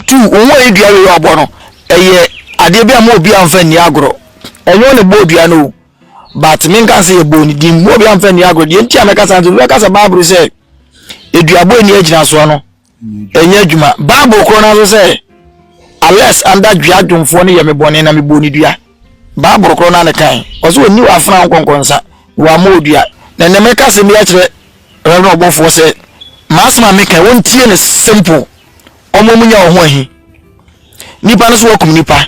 tu wo ho ayi dua wei a ɔbɔ no ɛyɛ adeɛ bi a mo obi anfa nni agorɔ ɛnyɛ ɔne bɔɔ dua no o but menka sɛ yɛbɔɔ ne din mo obi anfa nni agorɔ deɛ nti a mɛka saa nti mɛka sɛ bible sɛ aduabɔ ani agyinasoɔ no ɛnyɛ adwuma bible korɔ no nso sɛ alex anda dua dwomfoɔ no yɛ me bɔne na mebɔɔ ne dua bible korɔ no ane kan ɔsɛ ɔni wɔ afena nkɔnkɔnsa na wɔama ɔdua na ɛnɛ meka sɛ bi akyerɛ rɛbna ɔbɔfoɔ sɛ maasɛm a meka wɔntie no simple ɔmo mu nya wɔ ho ahi nipa no so wakum nipa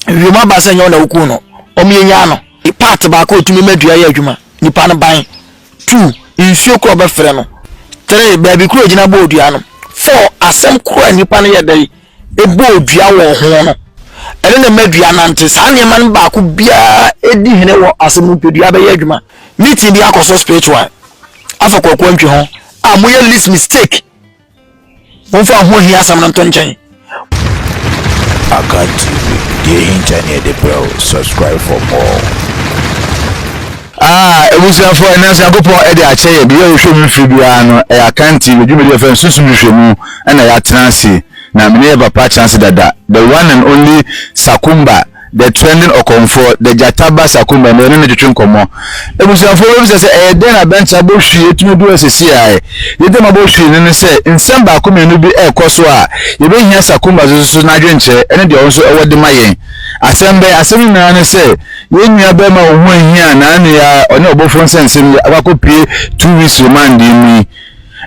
wiem aba sɛ nyɛ ɔna woku no ɔmo yɛnya no part baako ɔtumi ma dua yɛ adwuma nipa no ban Two, nsuo koro a wɔbɛfrɛ no. Three, baabi koro a ɛgyina bɔɔ dua no. Four, asɛm koro a nnipa no yɛ dɛn ɛbɔɔ dua wɔ ho no. Ɛno na ɛma dua nante. Saa nneɛma no baako biara ɛdi hene wɔ asɛm no mpadua bɛyɛ adwuma. Meeting bi akɔ so spiritual. Afa kwakuo ntwe ho a moyɛ least mistake. Momfa ho hia asɛm no nto nkyɛn. Akan TV, deɛ ɛhinta ne yɛde brɛ wo. Subscribe for more. Ah, abusuafoɔ ɛnɛ nso Nyankopɔn de akyɛ yɛ biribi a yɛhwɛ mu mfiri biara no ɛyɛ Akan TV dwumadi yɛfrɛ no sunsum nhwehwɛmu ɛna yɛatena ase na mene yɛ papa akyena ase dada the one and only Sakumba The Trending Ɔkɔmfoɔ, The Gyata Ba Sakuma, na yɛne no twetwe nkɔmmɔ. Abusuafoɔ bɛbisa sɛ, Ɛyɛ dɛn na Bɛnkyɛ abɔ hwii atumi adu ha seeseiaɛ? Yɛn ntam abɔ hwii no ne sɛ, nsɛm baako mmienu bi rekɔ so a yɛbɛhia Sakuma so susu na adwenkyerɛ ne deɛ ɔno nso wɔ de ma yɛn. Asɛm bɛn? Asɛm no nyinaa ne sɛ, yɛn nua barima a ɔho ahia a n'ano yɛ ara, ɔne ɔbɔfoɔ nsɛnsɛm yi, akɔ akɔpue two weeks remandee mu yi,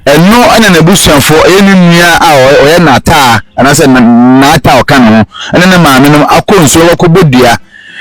Ɛno na n'abusuafo, ɛyɛ ne nua a ɔyɛ n'ataa anaasɛ n'ataa a ɔka ne ho, ne ne maamenom akɔ nsuo abɛkɔbɔ dua.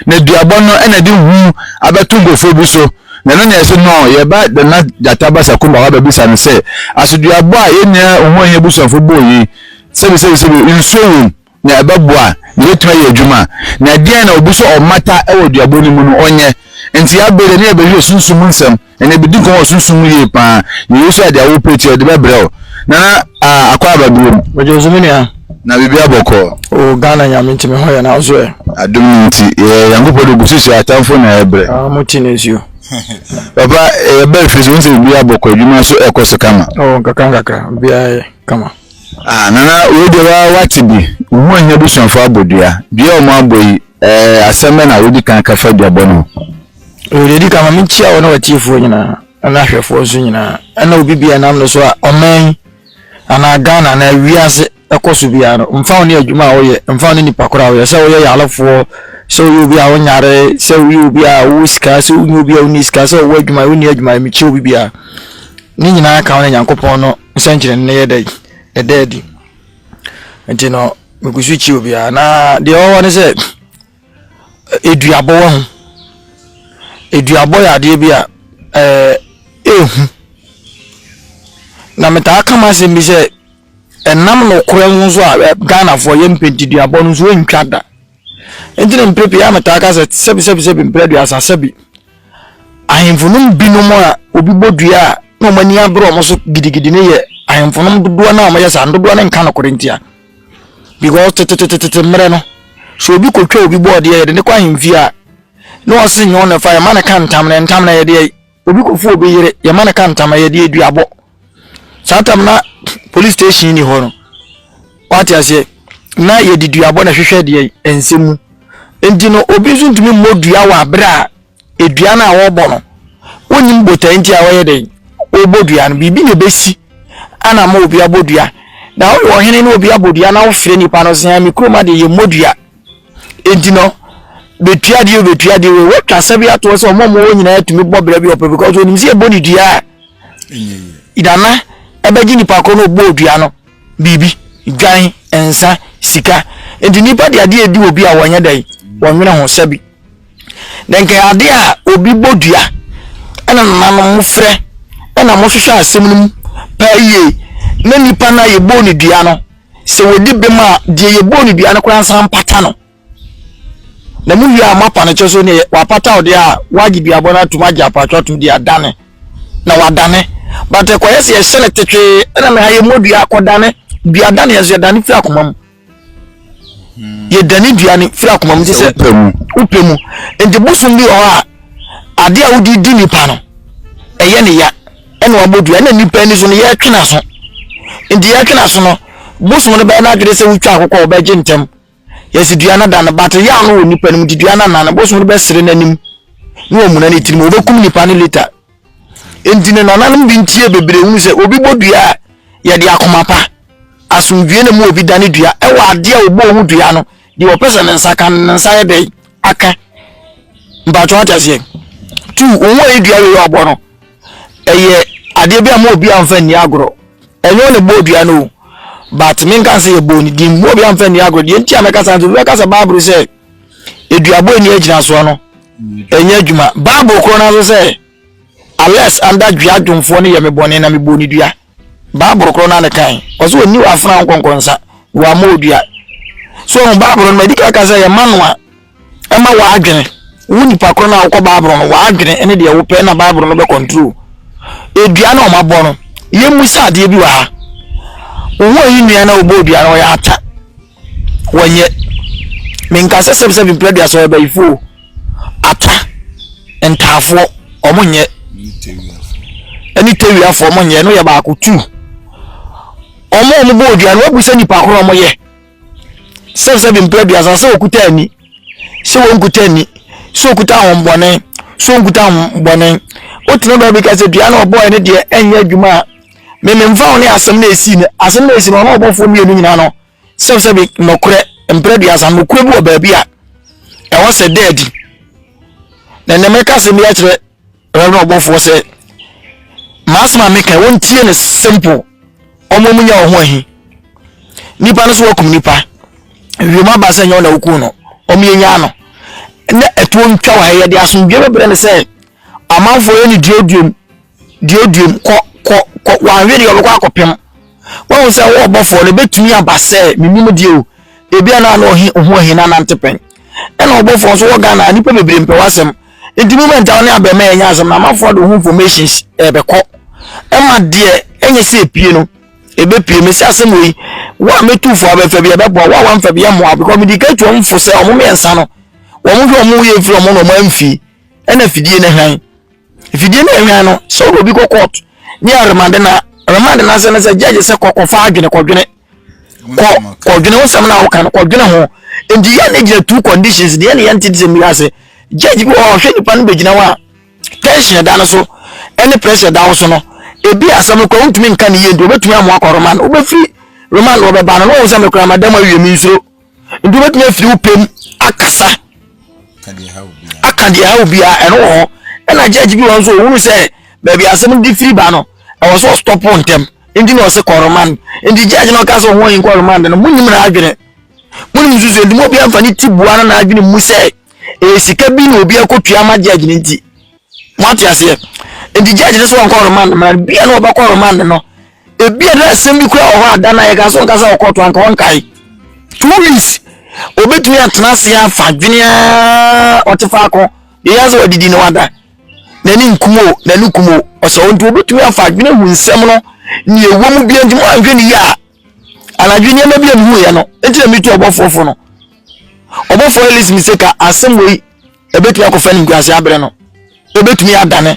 Na duabɔ no na ɛde hu abɛto nkurɔfoɔ bi so. Na ɛno na yɛse no, yɛba Nana Gyata ba Sakumba hɔ abɛbisa no sɛ, aso duabɔ a yɛn nua Ohuahia abusuafo bɔɔ yi, sɛbisɛbisɛbi, nsuo wom? na ɛbɛboa, na ɛbɛtumi ayɛ adwuma a, na ɛdeɛn na obi sɛ ɔmmata wɔ duabɔ no mu no, ɔnyɛ. Nti yɛ abere ne yɛbɛhwɛ sunsum mu nsɛm, ɛnna yɛbɛdi nkɔmmɔ wɔ sunsum mu yie pa ara, na Yesu a deɛ awo pere ti a, ɔde bɛbrɛ wo. Nana ah, Akwaa aba bio mu. Megyee so me nua. Na biribiara bɔkɔɔ. O Ghana Nyame nti me ho yɛ na wo so ɛ? Adom no nti yɛ Nyankopɔn de gu so hyɛ atamfo na ɛbrɛ. Ah, mo ti na nsuo. Papa yɛba fie so wohu sɛ biribiara bɔkɔɔ, adwuma nso ɛkɔ so kama. O nkakra nkakra, biribiara yɛ kama. Ah nana wei deɛ wa wate bi wohu ohia abusuafo abɔ dua dua a wɔn abɔ yi ɛɛ eh, asɛm bɛ na wodi kan kafa duabɔ no ho. Ɛwɔ deɛ di kan ma menkyia wɔ ne watiefoɔ nyinaa ɛna ahwɛfoɔ nso nyinaa ɛna obi bia nam no so a ɔman anaa Ghana anaa wiase ɛkɔ so biara no mfa wo ne adwuma a woyɛ mfa wo ne nipa koro a woyɛ sɛ woyɛ yalefoɔ sɛ woyɛ obi a wonyare sɛ woyɛ obi a wowɔ sika sɛ wonyɛ obi a wonni sika sɛ wowɔ adwuma wonni adwuma mekyia obi biara ne nyinaa ka wo ne nyankopɔn no nsɛnkyerɛnne no yɛ dɛn? Ɛda adi. Nti no, megu so kyia obiara. Na deɛ ɔwɔ ne sɛ, eduabɔ wɔ ho. Eduabɔ yɛ adeɛ bi a ɛɛ ehu. Na metaa ka m'asɛm bi sɛ, ɛnam nokorɛ ho nso a Ghanafoɔ yɛmpɛ nti duabɔ no nso ɛntwa da. Enti na mprɛ pii a metaa ka sɛ, sɛbi sɛbi sɛbi mprɛ aduasa sɛbi. Ahemfo no mu binom a obi bɔ dua a na wɔn ani abere wɔn so gidigidi no yɛ ahemfo no dodoɔ no a wɔyɛ saa no dodoɔ no nka nokorɛ ntia. Because tetetetete mmerɛ no, sɛ obi kɔtwa obi bɔɔdeɛ yɛde ne kɔ ahemfie a na ɔse nyɛ ɔna fa yɛma no ka ntam na ntam na yɛdeɛ Obi kɔfu obi yere, yɛma no ka ntama, yɛde aduabɔ. Saa tam na police station ni hɔ no, wate aseɛ, na yɛde duabɔ na hwehwɛ deɛ ɛnsɛ mu. Nti no, obi nso ntumi mmɔ dua wɔ abere a edua no a wɔbɔ no, wonim botae nti a wɔyɛ dɛn, wɔbɔ dua no, biribi na ɛbɛsi ana ma obi abɔ dua. Na woyɛ ɔhene na obi abɔ dua na wofrɛ nipa no sɛ, me kurom adeɛ yɛmmɔ dua. Enti no, betua deɛ o, betua deɛ o, wɔatwa asɛm bi atoɔ sɛ wɔn a wɔwɔ nyinaa tumi bɔ bra bi ɔpɛ because onim sɛ ɛbɔ ne dua a, dana ɛbɛgye nipa koro na ɔbɔ dua no biribi, dwan, nsa, sika. Enti nipa de adeɛ edi obi a wɔnyɛ dɛ, wɔnwene ho sɛbi. Na nka adeɛ a obi bɔ dua ɛna nananom mo frɛ ɛna mo hwehwɛ asɛm no mu paa yie na nipa no a yɛbɔ ne dua no sɛ wɔdi bem a deɛ yɛbɔɔ no dua no koraa nsa mpata no na mu wie a moapa no kyɛ so ne wapata wo deɛ a woagye duabɔ no atom agye apatwa atom de adane na wadane but ɛkɔyɛ sɛ yɛhyɛ no tetwee ɛna meha yɛmmɔ dua akɔdane dua dane ɛso yɛdane firi akoma mu hmm. yɛdane dua no firi akoma mu te sɛ wopɛ mu nti bosom bi wɔ hɔ a adeɛ a wode di nipa no ɛyɛ ne ya ɛna wabɔ dua ɛna nipa ani so no yɛtwe n'aso nti yɛtwe n'aso no bosom no bɛyɛ n'adwene sɛ wotwa akokɔ a ɔbɛgye ntɛm yɛsi dua no da no bate yɛ ano wɔ nipa no mu nti dua no anan no bosom no bɛsere n'anim na wɔmuna ne tirim wɔbɛkum nipa no leta nti ne nananom bi ntie bebree hunu sɛ obi bɔ dua a yɛde akoma pa asomdue na mu obi da ne dua ɛwɔ adeɛ a ɔbɔ ho dua no Deɛ ɔpɛ sɛ ne nsa ka no, ne nsa yɛ dɛn? Aka. Mpakyɛ wate aseɛ? Tu, wo ho ɛyɛ dua wei a ɔbɔ no, ɛyɛ adeɛ bi a mo obi amfa nni agorɔ. Ɛnyɛ ɔne bɔɔ dua no o, but menka sɛ yɛbɔɔ ne din, mo obi amfa nni agorɔ. Deɛ nti a mɛka saa nti, obi bɛka sɛ Bible sɛ eduabɔ ɛni agyinasoɔ no, ɛnyɛ adwuma. Bible korɔ no nso sɛ, unless anda dua dwomfoɔ no yɛ me bɔne na mebɔɔ ne dua. Bible korɔ no a ne kan ɔsɛ ɔni wɔ afena nkɔnkɔ nsa wɔ ama odua so ɔhu Bible no ma ɛdi kaka sɛ yɛ ma no a ɛma wɔ adwene wo nipa korɔ no a wokɔ Bible no wɔ adwene ne deɛ wopɛ na Bible no bɛ control edua na ɔma bɔ no yɛ mu sɛ adeɛ bi wɔ ha wo ho ayi nua na ɔbɔ odua no ɔyɛ ata wɔnyɛ menka sɛ sɛbsɛ mepɛ aduasa ɔyɛ bayifo o atwa ntaafoɔ ɔmo nyɛ ɛne tewiafoɔ ɔmo nyɛ no yɛ baako tu ɔmo ɔmo bɔ odua no wabu sɛ nipa koro ɔmo yɛ sɛbsɛ mepɛ aduasa sɛ okuta ani sɛ wɔn kuta ani sɛ okuta ahombɔne sɛ wɔn kuta ahombɔne wotena baabi ka sɛ dua na ɔbɔɔ ɛne deɛ ɛnyɛ adwuma a Mememfa wo ne asɛm no a ɛsii no, asɛm no a ɛsii no, ɔne ɔbɔfoɔ mmienu nyinaa no, sɛbsɛbi nɔkorɛ, mprɛ duasa, nɔkorɛ bi wɔ baabi a ɛwɔ sɛ da adi. Na ɛnɛ mɛka asɛm bi akyerɛ Reverend ɔbɔfoɔ sɛ, maasɛm a meka wɔntie no simple, ɔmo mu nya ɔho ahi. Nipa no so wakum nipa, wiem aba sɛ nyɛ ɔna wokum no, ɔmo yɛ nyaa no. Na ɛtoɔ ntwa wɔ ha yɛde asomdwe bɛbrɛ no sɛ, Amanfoɔ yɛ no duoduom duoduom kɔ kɔ kɔ wanhwɛ deɛ ɔbɛkɔ akɔpem wahu sɛ wo ɔbɔfoɔ no bɛtumi aba sɛ menim deɛ o ebia na ano ɔhe ohu ɔhe na nante pɛn ɛna ɔbɔfoɔ nso wɔ Ghana nipa bebree mpɛ wasɛm nti moment a wo ne abɛɛma yɛnyɛ asɛm na amanfoɔ de wo ho informations ɛbɛkɔ ɛma deɛ ɛnyɛ sɛ epie no ɛbɛpie me sɛ asɛm wei wo a mɛtu fo abɛfa bi ɛbɛboa wo a wamfa bi ɛmmoa because mede ka tu ɔmfo sɛ ɔmo mmiɛnsa no wɔn hwɛ wɔn yɛ firi wɔn na wɔn amfie ɛna afidie no hwan afidie no hwan no sɛ wode obi kɔ court ne aremade na aremade no asɛ no sɛ judge sɛ kɔkɔfa adwene kɔdwene kɔ kɔdwene wo sɛm no a woka no kɔdwene ho nti yɛ ne gyina two conditions deɛ ne yɛnte de sɛ mmira ase judge bi wɔ hɔ ɔhwɛ nipa no bɛgyina hɔ a tension da no so ɛne pressure da wo so no ebi asɛm no kɔ wontumi nka ne yie nti wobɛtumi amoa kɔ remand wobɛfiri remand wɔbɛba no na wɔn sɛ mekora madam awie me nsuro nti wobɛtumi afiri wo pɛm akasa aka deɛ ɛha obiara ɛno wɔ hɔ ɛna judge bi wɔn nso ɔhunu sɛ baabi asɛm de firi ba no ɛwɔ sɛ ɔstɔpo ntɛm nti na ɔse kɔromand nti judge na ɔka sɛ ho yi kɔromand no monim na adwene monim nsusuo nti mu obi amfa ne ti bua no na adwene mu sɛ ɛyɛ sika bi na obi akɔtua ama judge no nti Mo ate aseɛ? Nti judge no so ɔnkɔ remand mmara no, bia na ɔbɛkɔ remand no. Ebia na asɛm bi kura wɔ hɔ a da na yɛka so nka sɛ ɔkɔ to anka ɔnkae. Two weeks obetumi atena ase afa dwene a ɔte faako deɛ yɛn sɛ wadidi na wada n'ani nkum o n'ani kum o ɔsɛ nti obetumi afa adwene hu nsɛm no nea ɛwɔ mu bia nti mo anhwɛ ne yie a Anadwo nneɛma bi a mehuiɛ no nti na metu ɔbɔfoɔ fo no. Ɔbɔfoɔ Ellis mi sɛ ka asɛm wei ɛbɛtumi akɔfa ne nkurase aberɛ no. Ɛbɛtumi adane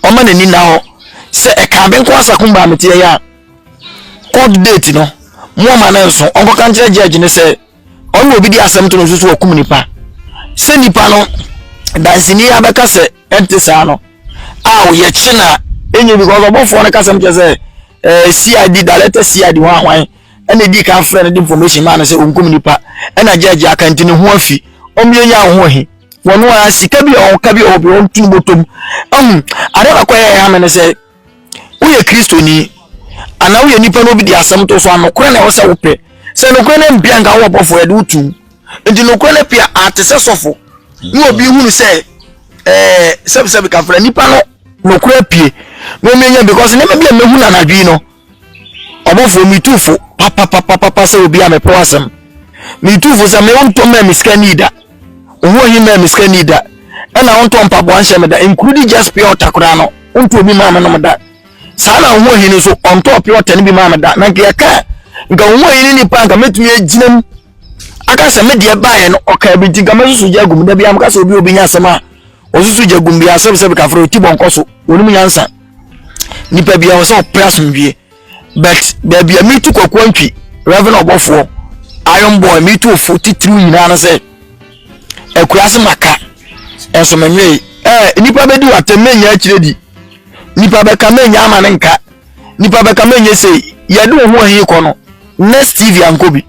ɔma n'ani nna hɔ sɛ ɛka abe nko asa kumba meteɛ yɛ a court date no moama no nso ɔnkɔka nkyerɛ judge no sɛ Ɔno na obi de asɛm to no so sɛ wakum nipa. Sɛ nipa no danseni abɛka sɛ ɛnte saa no a yɛkye no a ɛnyɛ because ɔbɔfoɔ no kasɛm kyɛ sɛ eh, CID director CID ho ahwan ɛna ɛdi kan frɛ no de information maa no sɛ ɔnkum nipa ɛna gyɛgye aka nti ne ho afi ɔmmiɛnya wo ho he wɔn a sika bi a ɔka bi a ɔbi ɔntu no bɔtɔm ɛhu ade baako a ɛyɛ ha me no sɛ woyɛ kristoni anaa woyɛ nipa na obi de asɛm to so a nokorɛ na ɛwɔ sɛ wopɛ sɛ nokorɛ no mpia nka wowɔ bɔfoɔ yɛde wotum nti nokorɛ no pia ate sɛ sɔfo ne obi hunu sɛ ɛɛ sɛbisɛbi kafra nipa no nokorɛ pie na omi enya because nneɛma bi a mehu na anadwo yi no ɔmɔfoɔ metu fo papapapapa sɛ obi a mepɛ w'asɛm metu fo sɛ me wontɔ mmaa me sika ni da ɔho ahi mmaa me sika ni da ɛna wontɔ mpaboa nhyɛ me da nkurudi just pure ɔta koraa no wontɔ obi maa me nom da saa na ɔho ahi no nso ɔntɔ pure ɔta no bi maa me da na nka yɛka nka ɔho ahi no nipa nka mɛtumi agyina mu aka sɛ me deɛ baeɛ no ɔka bi nti nka mɛsusu gya agum da bi amka sɛ obi obi nya asɛm a ɔsusu gya agum bi asɛm sɛ bi kafra ɔti bɔnkɔ so wɔnom nyansa nipa biara sɛ ɔpɛ asomdwie but baabi a metu kɔkɔɔ ntwi reverend ɔbɔfoɔ iron boy metu ofo titiriw nyinaa no sɛ akuraase maka ɛnso menwee ɛɛ nipa bɛdi watɛm menya akyire di nipa bɛka menya ama ne nka nipa bɛka menya sei yɛde wo ho ahi kɔ no next tv ankɔ bi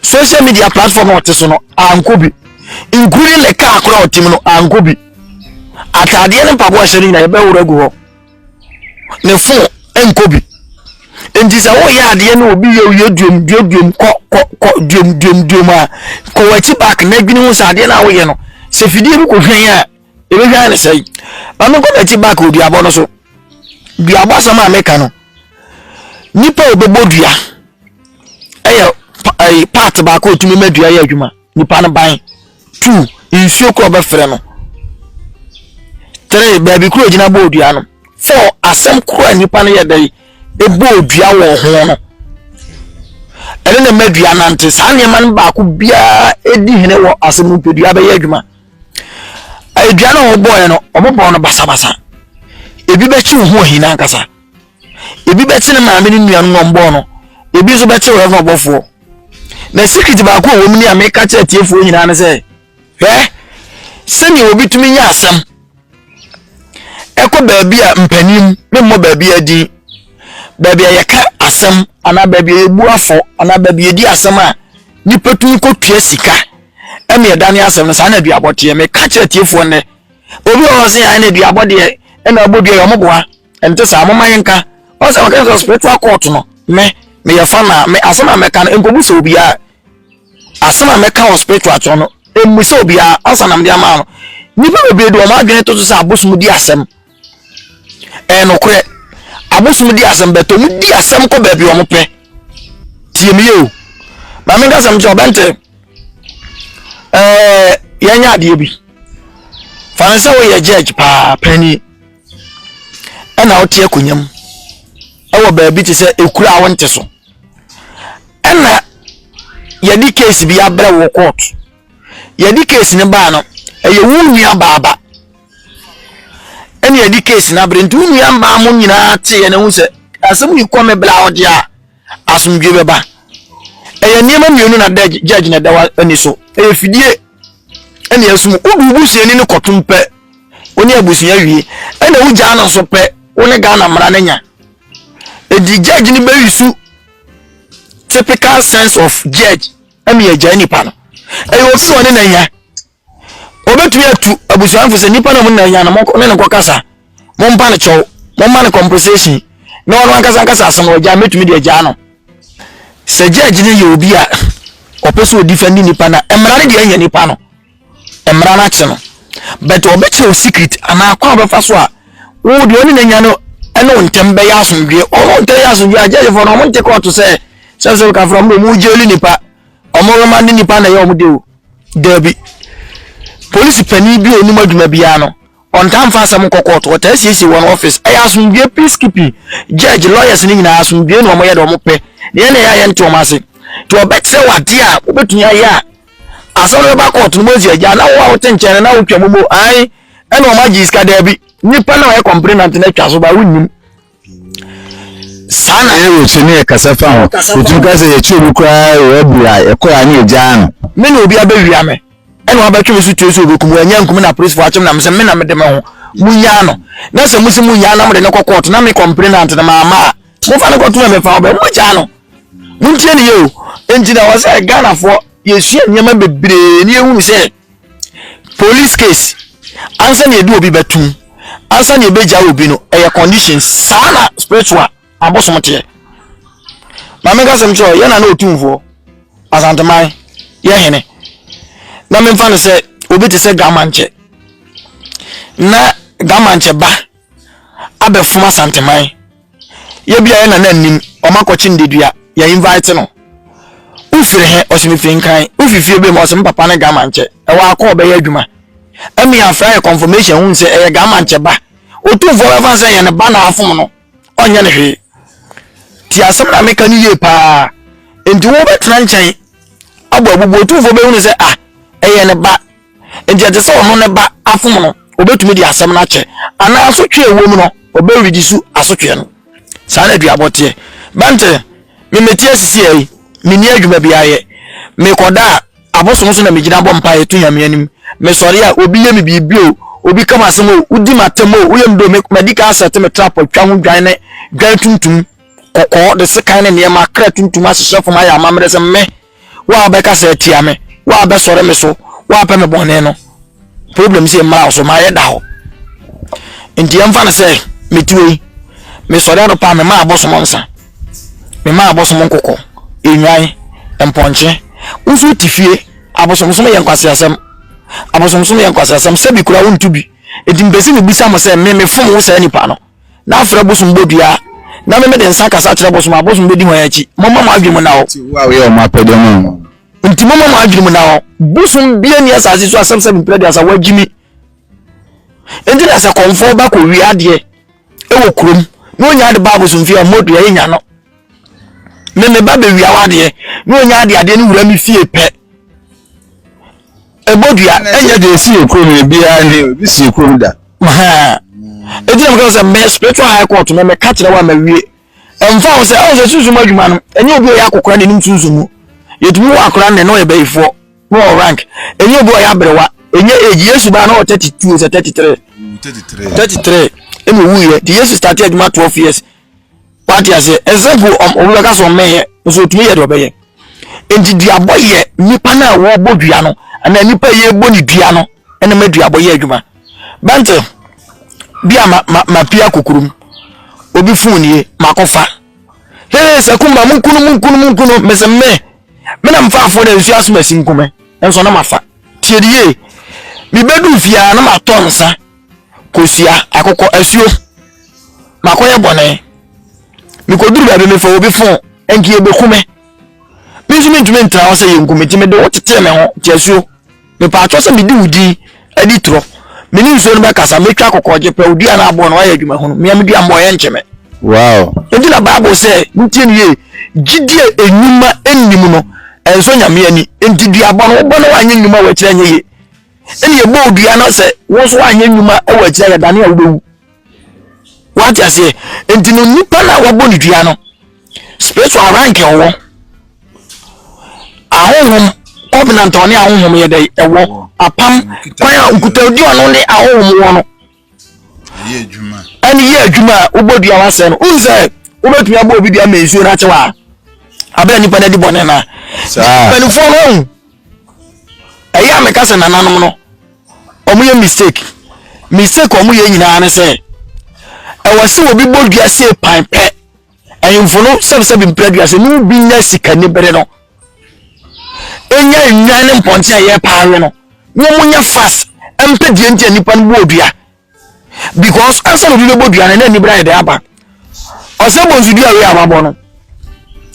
social media platform a ɔte so no ankɔ bi including ne kaa koro a ɔte mu no ankɔ bi ataadeɛ ne mpaboa hyɛ no nyinaa yɛbɛworo agu hɔ ne fon nkɔ bi nti sɛ woyɛ adeɛ no obi yɛ oyɛ duom duom duom kɔ kɔ kɔ duom duom duom a kɔ w'akyi back na adwene ho sɛ adeɛ no a woyɛ no sɛ fidie bi kɔ hwɛn a yɛbɛhwɛ ayɛ ne sɛe ma menkɔ m'akyi back wɔ duabɔ no so duabɔ asɛm a meka no nipa a ɔbɛbɔ dua ɛyɛ eh, part baako ɔtumi ma dua yɛ adwuma nipa no ban two nsuo korɔ bɛfrɛ no three baabi korɔ gyina bɔɔ dua no four asɛm korɔ a nipa no yɛ dɛ ɛbɔɔ dua wɔ ho no ɛne na ma dua nante saa nneɛma no baako biara ɛdi hene wɔ asɛm no pɛ dua bɛyɛ adwuma aduane a wɔbɔɔɛ no wɔbɔɔ no basabasa ebi bɛkye ho ohina ankasa ebi bɛkye ne maame ne nuanom na wɔbɔɔ no ebi nso bɛkye wɔn ɛfɔ ɔbɔfoɔ na secret baako a wɔn ni a meka kyerɛ tiefoɔ nyinaa ne sɛ hwɛ sɛnea obi tumi nya asɛm. Ɛkɔ baabi a mpanin, memmɔ baabiara din, baabi a yɛka asɛm anaa baabi a yɛbu afɔ anaa baabi a yɛdi asɛm a nnipa tumi kɔtua sika ɛne ɛdane asɛm no saa na aduabɔ teɛ. Meka kyerɛ atiefoɔ nnɛ, obi wɔ hɔ sɛ yɛn na aduabɔ deɛ ɛna abɔ dua yɛ ɔmo boa ɛnte saa moma yɛnka ɔsɛ ɔka sɛ spiritual court no me meyɛ fa na me asɛm a mɛka no nkɔbu sɛ obiara Asɛm a mɛka wɔ spiritual kyɛw no, mmisa obiara ansa na mede ama no. Nnipa bebree de wɔn adwene to so sɛ abosom di asɛm. Ɛyɛ nokorɛ. Abosom di asɛm bɛtɔ mu di asɛm kɔ baabi wɔn pɛ. Tie me yie o. Maame nka asɛm kyerɛ ɔbɛnte. Ɛɛ yɛnyɛ adeɛ bi. Fa ne sɛ woyɛ judge paa panyin ɛna wote akonnwa mu ɛwɔ baabi te sɛ ekura a wonte so. ɛna yɛde case bi abrɛ wɔ court yɛde case no baa no ɛyɛ wo nua baaba ɛna yɛde case no abrɛ nti wo nua mmaa mo nyinaa teeɛ no ho sɛ asɛm yi kɔ me bla ɔde a asomdwe bɛba ɛyɛ nneɛma mmienu na judge na ɛda wa ani so ɛyɛ fidie ɛna ɛsum wodu busuani no kɔtom pɛ wo ne abusua wie ɛna wogyaa no nso pɛ wo ne ghana mmara no nya Edi judge no bɛyi so typical sense of judge ɛmi yɛ gyae nipa no. Ɛyɛ obi wɔ ne na nya. Obetumi atu abusuafo sɛ nipa na mo na nya no mo ne ne nkɔ kasa. Mo mpa ne kyɛw. Mo ma ne compensation. Na ɔno ankasa ankasa asɛm wɔ gya metumi de agya no. Sɛ judge no yɛ obi a ɔpɛ sɛ odi fɛndi nipa na mmara no deɛ ɛnyɛ nipa no. mmara no akye no but ɔbɛkyɛ wo secret anaa kwan ɔbɛfa so a wo deɛ ɔne n'anya no ɛne wo ntɛm bɛyɛ asomdwoeɛ ɔmo ntɛm yɛ asomdwoeɛ a gyɛgyefoɔ no ɔmo nte kɔɔto sɛ sɛ sɛ kafra mu ɔmo gyeli nipa ɔmo roma ne nipa na ɛyɛ ɔmo de o daabi polisi panin bi a onim adwuma biara no Wɔntaa mfa asɛm nkɔ kɔɔto, wɔtaa siesie wɔn office. Ɛyɛ asomdwoe, peacekeeping. Judge, lawyers no nyinaa, asomdwoe na wɔyɛ de wɔpɛ. Nea ɛne ɛyɛ a yɛnte wɔn ase. Nti wɔbɛkyerɛ wo adeɛ a wobɛtumi ayɛ a asɛm no bɛba kɔɔto no mɔsi agya na wo a wote nkyɛn no na wotwa mu mo ae ɛna wɔn agye sika daabi. Nnipa na wɔyɛ complainant no atwa so ba wonnim. Saa na Aaron hwɛ ne ɛkasa fa ho. Otumi ka sɛ, Yɛkyeree me koraa wɔ Abur a ɛkɔe a na yegyaa no. Me na obi abewia me, ɛna wabɛtwe me so tue sɛ obekum me. Wannya ankum me na apolisifo akyere me na mese me na mede me ho. Munnyaa no. Na sɛ muse munnyaa no na mode no kɔ kɔɔto na me kɔmplenant no mamma a, momfa no nkɔto mmɛmfa ɔbɛ. Mugyaa no. Muntie no yie o. Enti na ɛwɔ sɛ Ghanafoɔ yesua nneɛma bebree na yehunu sɛ Police case ansa na yɛde obi bɛto mu ansa na yɛbɛgya obi no ɛyɛ condition saa na spiritual abosom teɛ maame nka sɛm kyerɛ yɛ na na ɔtumfoɔ asanteman yɛ hene na memfa no sɛ obi te sɛ gamankyɛ na gamankyɛ ba abɛfom asanteman yɛ bia yɛ nana nim wɔn akɔkye ndedua yɛ invite no wofiri he ɔsɛ mefiri nkran wofifie bɛ mu ɔsɛ me papa ne gama nkyɛ ɛwɔ akɔ ɔbɛyɛ adwuma ɛmi afra yɛ confirmation hu sɛ ɛyɛ gama nkyɛ ba otumfoɔ bɛfa sɛ yɛ ne ba na afom no ɔnyɛ ne hwee ti asɛm na meka no yie paa nti wobɛtena nkyɛn abɔ abubu otumfoɔ bɛhunu sɛ ah ɛyɛ ne ba Enti ɛte sɛ ɔno ne ba afom no, obetumi de asɛm no akyɛ, anaa asotwe a ɛwom no, ɔbɛredi so asotwe no. Saa na aduabɔ teɛ. Bɛnte, Me mete ase siaa yi, menni adwuma biara yɛ. Mekɔda a, abosom so na megyina bɔ mpaeɛ to Nyame anim. Mesɔre a, obi yɛ me biribi o, obi ka m'asɛm o, wodi m'atɛm o, woyɛ me dɛ o, me, madi kan asɛte me trap atwa ho dwan ne dwan tuntum, kɔkɔɔ, de sekan ne nneɛma, kra tuntum ahyehyɛ fam ayɛ amammerɛ sɛ me, Wo a wobɛkasa atia me, wo a wobɛsɔre me so, wo a wopɛ me bɔne no, problem sɛ mmara wo so, mayɛ da hɔ. Nti ɛmfa no sɛ metuo yi, mesɔre anɔpa a mema abosom nsa, mema abosom nkokɔ, nnwan, mpɔnkye. Wo nso wote fie, abosomsom yɛ nkwaseasɛm. Abosomsom yɛ nkwaseasɛm, sɛ bi koraa wonto bi. Enti mepɛ sɛ mebisa mo sɛ me mefom wo saa nipa no? na afrɛ bosom bɔ dua, na me mede nsa kasa kyerɛ bosom a, bosom bɛdi hwan akyi? Momma mo adwene mu nna hɔ. Enti wo a woyɛ wɔn apɛdeɛ ma wɔn. Enti momma mo adwene mu nna hɔ. Bosom bia nni asase so asɛm sɛ mempere aduasa, woagye mi. Enti na sɛ kɔmfoɔ ba kɔwie adeɛ wɔ kurom na ɔnya de ba abosomfie a, motu, ɛyɛ nya no. Me me ba bɛwia wadeɛ na ɔnya adeɛ adeɛ no wura me fie pɛ ɛbɔ dua ɛnyɛ deɛ ɛsi yɛ kurom no biara ne obi si yɛ kurom da ɛti na mekasa sɛ me spiritual high court me meka kyerɛ wo a mawie ɛmfa wo sɛ ɛwɔ sɛ sunsum adwuma no ɛnyɛ obi a ɔyɛ akokora na ɛnim sunsum mu yɛtumi wɔ akora nnɛ na ɔyɛ bayifoɔ na ɔwɔ rank ɛnyɛ obi a ɔyɛ aberewa ɛnyɛ age yesu baa na ɔwɔ 32 sɛ 33 33 ɛna ɔwuiɛ nti yesu starte adwuma 12 years wate aseɛ ɛnsɛ mpo obi bɛka sɛ ɔmmɛyɛ nso ɔtumi yɛ deɛ ɔbɛyɛ nti duabɔ yɛ nipa no a wɔbɔ dua no anaa nipa a yɛbɔ ne dua no ɛna ma duabɔ yɛ adwuma bɛnte bi a ma ma ma pia kokurum obi fon nie makɔfa hee sɛ kumba mu nkunu mu nkunu mu nkunu mesɛ me me na mfa afo na nsuo asoma si nkume nso na mafa tiedie mebɛdu fiaa na matɔ nsa kosua akokɔ asuo makɔyɛ bɔne mekɔduru baabi mefa obi fon nka yɛbɛku me me nso mentumi ntra hɔ sɛ yɛnku me nti mede wo tetee me ho te asuo mepaatwɔ sɛ medi wo din adi torɔ mene nsuo no bɛkasa mɛtwa akokɔ gye pɛ odua no aboɔ no wayɛ adwuma hunu mea medua mmɔ yɛ nkye me wow nti na bible sɛ ntie no yie gyidie enwuma nnim no ɛnsɔ nyame ani nti duabɔ no wobɔ no wanyɛ nnwuma wɔakyerɛ nyɛ yie ɛna ɛbɔɔ dua na sɛ wo nso anyɛ nnwuma wɔ akyira yɛdane a wobɛwu wate aseɛ nti no nipa no a wabɔ ne dua no spiritual rank ɛwɔ ahonhom covenant ɔne ahonhom yɛ dɛ ɛwɔ apam kwan a nkutadi ɔno ne ahonhom wɔ no ɛne yɛ adwuma a wobɔ dua wasɛe no wohu sɛ wobɛtumi abɔ obi dua ma nsuo no akye wɔ a abɛrɛ nipa no adi bɔne no a mpanimfoɔ no ahu ɛyɛ a meka sɛ nananom no wɔyɛ mistake mistake wɔyɛ nyinaa ne sɛ ɛwɔ sɛ obi bɔ dua sei pan pɛ Ahemfo no sɛbsɛbe mpira dua sɛ ne bi nya sikani bere no ɛnya nnwan ne mpɔnten a ɛyɛ paa we no wɔn nya fas mpɛ deɛ nti a nipa no bɔ dua because ansa na obi bɛbɔ dua no na anibere ayɛ dɛ aba ɔsɛ bɔ nso dua wei a wabɔ no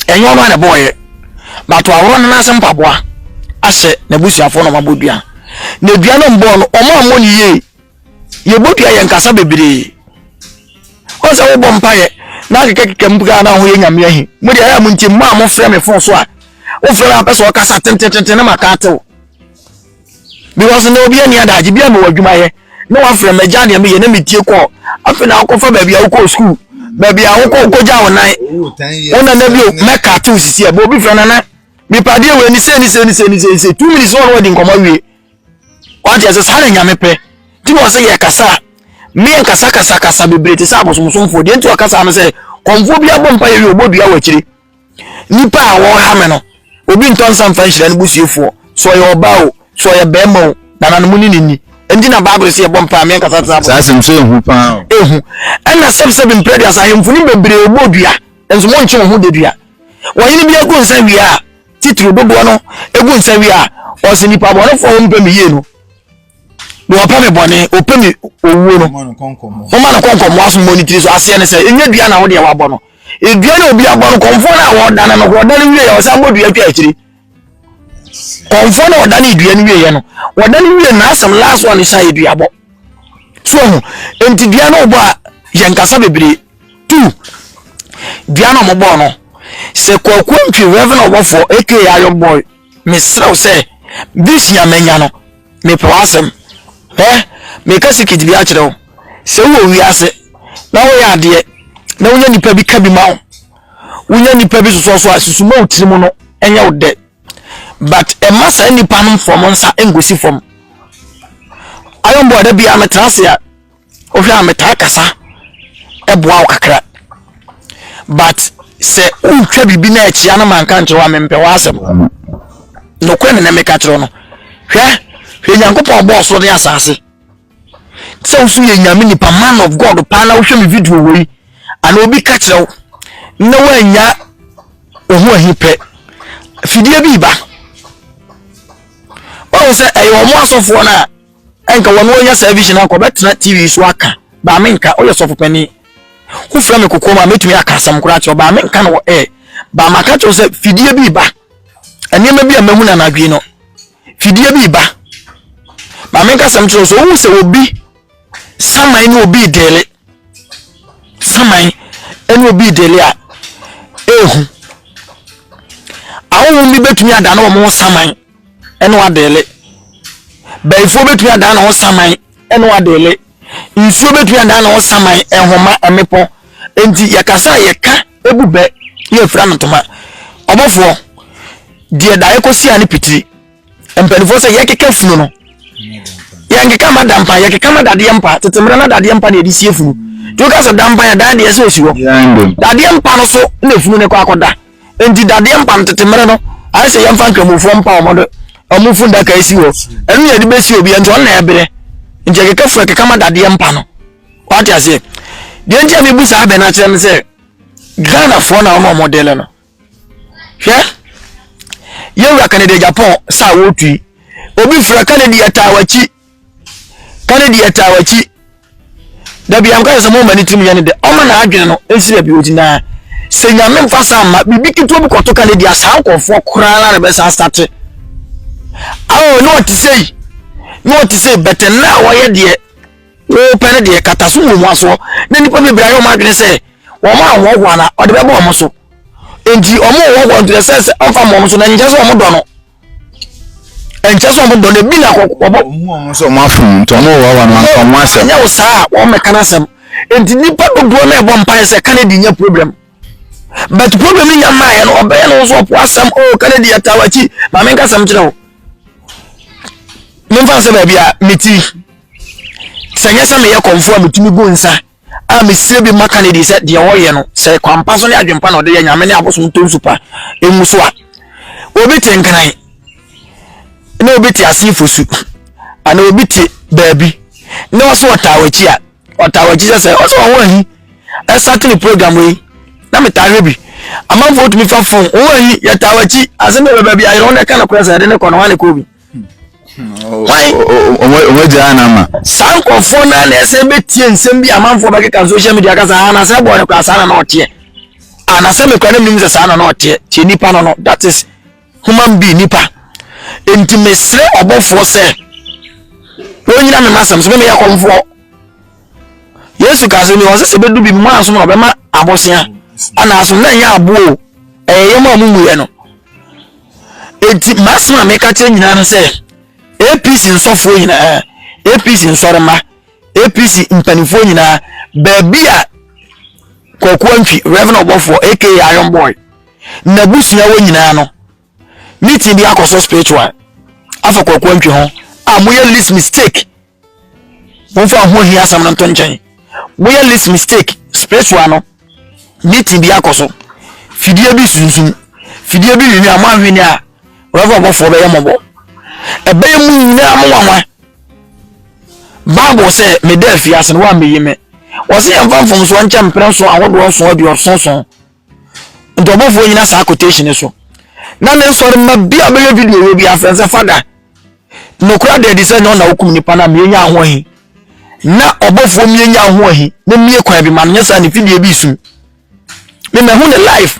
ɛnyɛ ɔno a na ɛbɔɔyɛ bato ahoro no n'ase mpaboa ahyɛ n'abusuafoɔ na wɔabɔ dua na dua no mbɔɔ no wɔn a wɔn yie yɛbɔdua yɛn kasa bebree ɔn sɛ wobɔ mpaeɛ na akekakeka mu koraa na ho yɛ nyame ahi mo deɛ ɛyɛ mo nti mo a mofrɛ me fon so a wofrɛ me apɛ sɛ ɔkasa tentetenten na maka atew because na obi ani adagye bi a mewɔ adwuma yɛ na wafrɛ magya deɛ meyɛ na metie kɔɔ afei na wokɔfa baabi a wokɔɔ sukuu baabi a wokɔ wokɔgya wo nan wo nana bio mɛka atew sisi a bɛ obi frɛ nana mepadeɛ wɔ ani sɛ ni sɛ ni sɛ ni sɛ ni sɛ two minutes wɔn wɔdi nkɔmɔ wie Wate ase? Saa na Nyame pɛ. Nti na ɔsɛ yɛ kasa. Mmea nkasa kasa kasa bebree te sɛ abosomsomfoɔ. Deɛ nti ɔkasa no sɛ kɔmfoɔ bi abɔ mpa yɛ wie ɔbɔ dua wɔ akyire. Nipa a wɔha me no, obi ntɔ nsa mfa nhyira ne busiefoɔ. Sɛ ɔyɛ ɔbaa o, sɛ ɔyɛ bɛrima o, nananom ne ne nni. Nti na Bible sɛ yɛbɔ mpa a mmea nkasa te sɛ abosomsomfoɔ. Saa asɛm so ehu paa o. Ehu. Ɛna sɛbsɛb mprɛ duasa ahemfo no bebree ɔbɔ dua, nso monkye wɔn ho da dua. Wɔhene bi agu nsa wie a, Titiriw dodoɔ no egu nsa wie a, ɔse nipa bɔnefoɔ a wɔmpɛ me yie no, deɛ ɔpɛ me bɔne, ɔpɛ me owuo no, momma no nkɔ nkɔmmoa so mmɔ ne tiri so. Aseɛ ne sɛ, ɛnyɛ dua na wodeɛ wabɔ no. Edua na obi abɔ no, kɔmfoɔ no a wɔdane no, wɔdane wie yɛ, ɔsan bɔ dua twa akyiri. Kɔmfoɔ no a ɔdane dua no wie yɛ no, wɔdane wie na asɛm last one hyɛ yɛ dua bɔ. So ho, enti dua no ɔbɔ a, yɛn kasa bebree. Tu! Dua na wɔbɔɔ no. Sɛ Kwaku Antwi Reverend Ɔbɔfoɔ aka Ayo Boy, mesrɛ wo sɛ, vision a manya no, mepɛ w'asɛm. Hwɛ, meka secret bi akyerɛ wo. Sɛ wowɔ wiase na woyɛ adeɛ na wonya nipa bi ka bi ma wo, wonya nipa bi sosɔ so a, susu ma wo tiri mu no nyɛ wo dɛ. But ɛma saa nipa no mfa wɔn nsa nkɔsi fam. Ayo Boy da biara metena ase a, Wohwɛ a metaa kasa boa wo kakra but sɛ wotwa biribi na akyia no ma nka nkyerɛ wo a mempɛ w'asɛm nokorɛ ne na meka kyerɛ no hwɛ hwɛ nyankopɔn bɔɔ so ne asase sɛ woso yɛ nyame nipa man of god paa na wohwɛ me video wei ana obi ka kyerɛ wo na woanya wo ho ahi pɛ fidie bi ba ɔhu sɛ ɛyɛ ɔmo asɔfoɔ no a Ɛnka wɔ no ɔnya saa vision anka ɔbɛtena TV so aka baa me nka ɔyɛ sɔfo panin ho frɛ me kokoam a mɛtumi aka asɛm koraa kyerɛ ɔbaa me nka no wɔ air baa maka kyerɛ sɛ fidie bi ba nneɛma bi a mahu no anadwo no fidie bi ba baa me nka asɛm kyerɛ sɛ ɔhu sɛ obi saman ne obi dele saman ne obi dele a ehu ahohom bi bɛtumi ada ne wɔn saman ɛne wadeele. Bayifoɔ bɛtumi adan ne ho saman ɛne wadeele. Nsuo bɛtumi adan ne ho saman, nhoma, mmepɔ. Enti yɛkasa a yɛka ɛbu bɛ ne yɛfira no ntoma. Ɔbɔfoɔ, deɛ daeɛ kɔsi a ne pitiri. Mpanimfoɔ sɛ yɛkeka funu no. Yɛnkeka ma dampa, yɛkeka ma dadeɛ mpa. Tete mmerɛ na dadeɛ mpa na yɛde sie funu. Nti woka sɛ dampa yɛ dan deɛ sɛ ɔsi hɔ. Dadeɛ mpa no so na funu no kɔ akɔda. nti dadeɛ mpa no tete mmerɛ no ayɛ sɛ yɛmfa nkramofoɔ mpa wɔn de wɔn fundaka asi hɔ ɛno yɛde bɛsi obi nti ɔno na ɛbrɛ nti ɛkeka funu ɛkeka ma dadeɛ mpa no wate aseɛ deɛ nti a mebu saa bɛn akyerɛ no sɛ ghanafoɔ na wɔn a wɔde no no hwɛ yɛwura kanada japan saa wɔtui obi fira kanada yɛtaa wakyi Kane deɛ ɛtaa wakyi dabi a mekasa sɛ moma ne tirim yɛ ne dɛ ɔma na adwene no nsi baabi ɔti naa sɛ nyame mfa sa mma biribi ketewa bi kɔto Kane deɛ saa nkurɔfoɔ koraa na bɛsa asate awo ne ɔte sɛ yi ne ɔte sɛ bɛtɛ na a wɔyɛ deɛ wɔpɛ no deɛ kata so wɔ mu asoɔ na nnipa bebree ayɛ wɔn adwene sɛ wɔn a wɔhoa no ɔde bɛbɔ wɔn so nti wɔn wɔhoa nti sɛ sɛ ɔmfa wɔn so na nkyɛ sɛ wɔn dɔ no ɛnkyɛ sɛ ɔmo dɔ no ebi na kɔ ɔbɔ. ɔmo ɔmo sɛ ɔmo afom nti ɔmo wɔ wɔn anka ɔmo asɛm. ɛnyɛ wo saa a wɔn mɛka n'asɛm nti nipa dodoɔ na ɛbɔ mpaeɛ sɛ kan di nyɛ problem but problem ni nya mmaa yɛ no ɔbɛyɛ no nso ɔpo asɛm o oh, kan di yɛ taa wakyi maame nka asɛm kyerɛ wo ne nfa sɛ baabi a meti sɛ nyɛ sɛ meyɛ kɔnfo a metumi gu nsa. a mesie bi maka no adi sɛ deɛ ɔyɛ no sɛ kwampa so ne adwempa na ɔde yɛ nyame ne abosom ntɔ nsu pa ɛngu so a obi te nkran na obi te ase fosu ana obi te baabi na ɔsɛ ɔtaa wakyi a ɔtaa wakyi sɛ sɛ ɔsɛ ɔho ahi ɛsate ne program yi na metaa hwɛ bi amanfoɔ tumi fa fon ɔho ahi yɛtaa wakyi ase ne bɛbɛ bi ayerɛ wo na ɛka no korɛ sɛ ɛde ne kɔ no hɔ ne kɔ bi wɔn agya ana ma. saa nkurɔfoɔ no na ɛsɛ bɛtie nsɛm bi amanfoɔ bɛkeka social media kasa a anasɛ ɛbɔ no koraa saa na na ɔteɛ anasɛ mekora no menim sɛ saa na na ɔteɛ tie nipa no no that is human being nipa nti mesrɛ ɔbɔfoɔ sɛ wɔnyina me masɛm so memeyɛ kɔmfoɔ yesu ka sɛ mewɔ sɛ sɛ bɛdu bi mu asom na ɔbɛma abosea anaaso na ɛnyɛ aboɔ ɛyɛ yɛm a mumuyɛ no nti m'asɛm a meka kyerɛ nyinaa no sɛ apc nsɔfoɔ nyinaa apc nsɔrema apc mpanimfoɔ nyinaa baabi a kwakuo ntwi reverend ɔbɔfoɔ aka iron boy n'abusua wɔ nyinaa no meeting bi akɔ so spiritual afa kwakuo ntwi ho a moyɛ list mistake momfa ho hia asɛm no nto nkyɛn woyɛ list mistake spiritual no meeting bi akɔ so fidie bi sunsum fidie bi nwini a moanhwene a rɛfo abɔfoɔ bɛyɛ mmɔbɔ ɛbɛyɛ mu nyinaa mo nwanwa bible sɛ meda afiase no woammɛyi me wɔse yɛmfa mfomsoɔ nkyɛ mprɛ nso ahodoɔ nso aduɔsonson nti ɔbɔfoɔ nyina saa quotation so na ne nsɔre mma bi a bɛyɛ video wɔ bi afrɛ sɛ fada nokora da adi sɛ nyɛ ɔna wokum nipa no a mienya ho ahi na ɔbɔfoɔ mienya ho ahi na mie kwan bi ma no nyɛ saa ne fidie bi sum me mahu ne life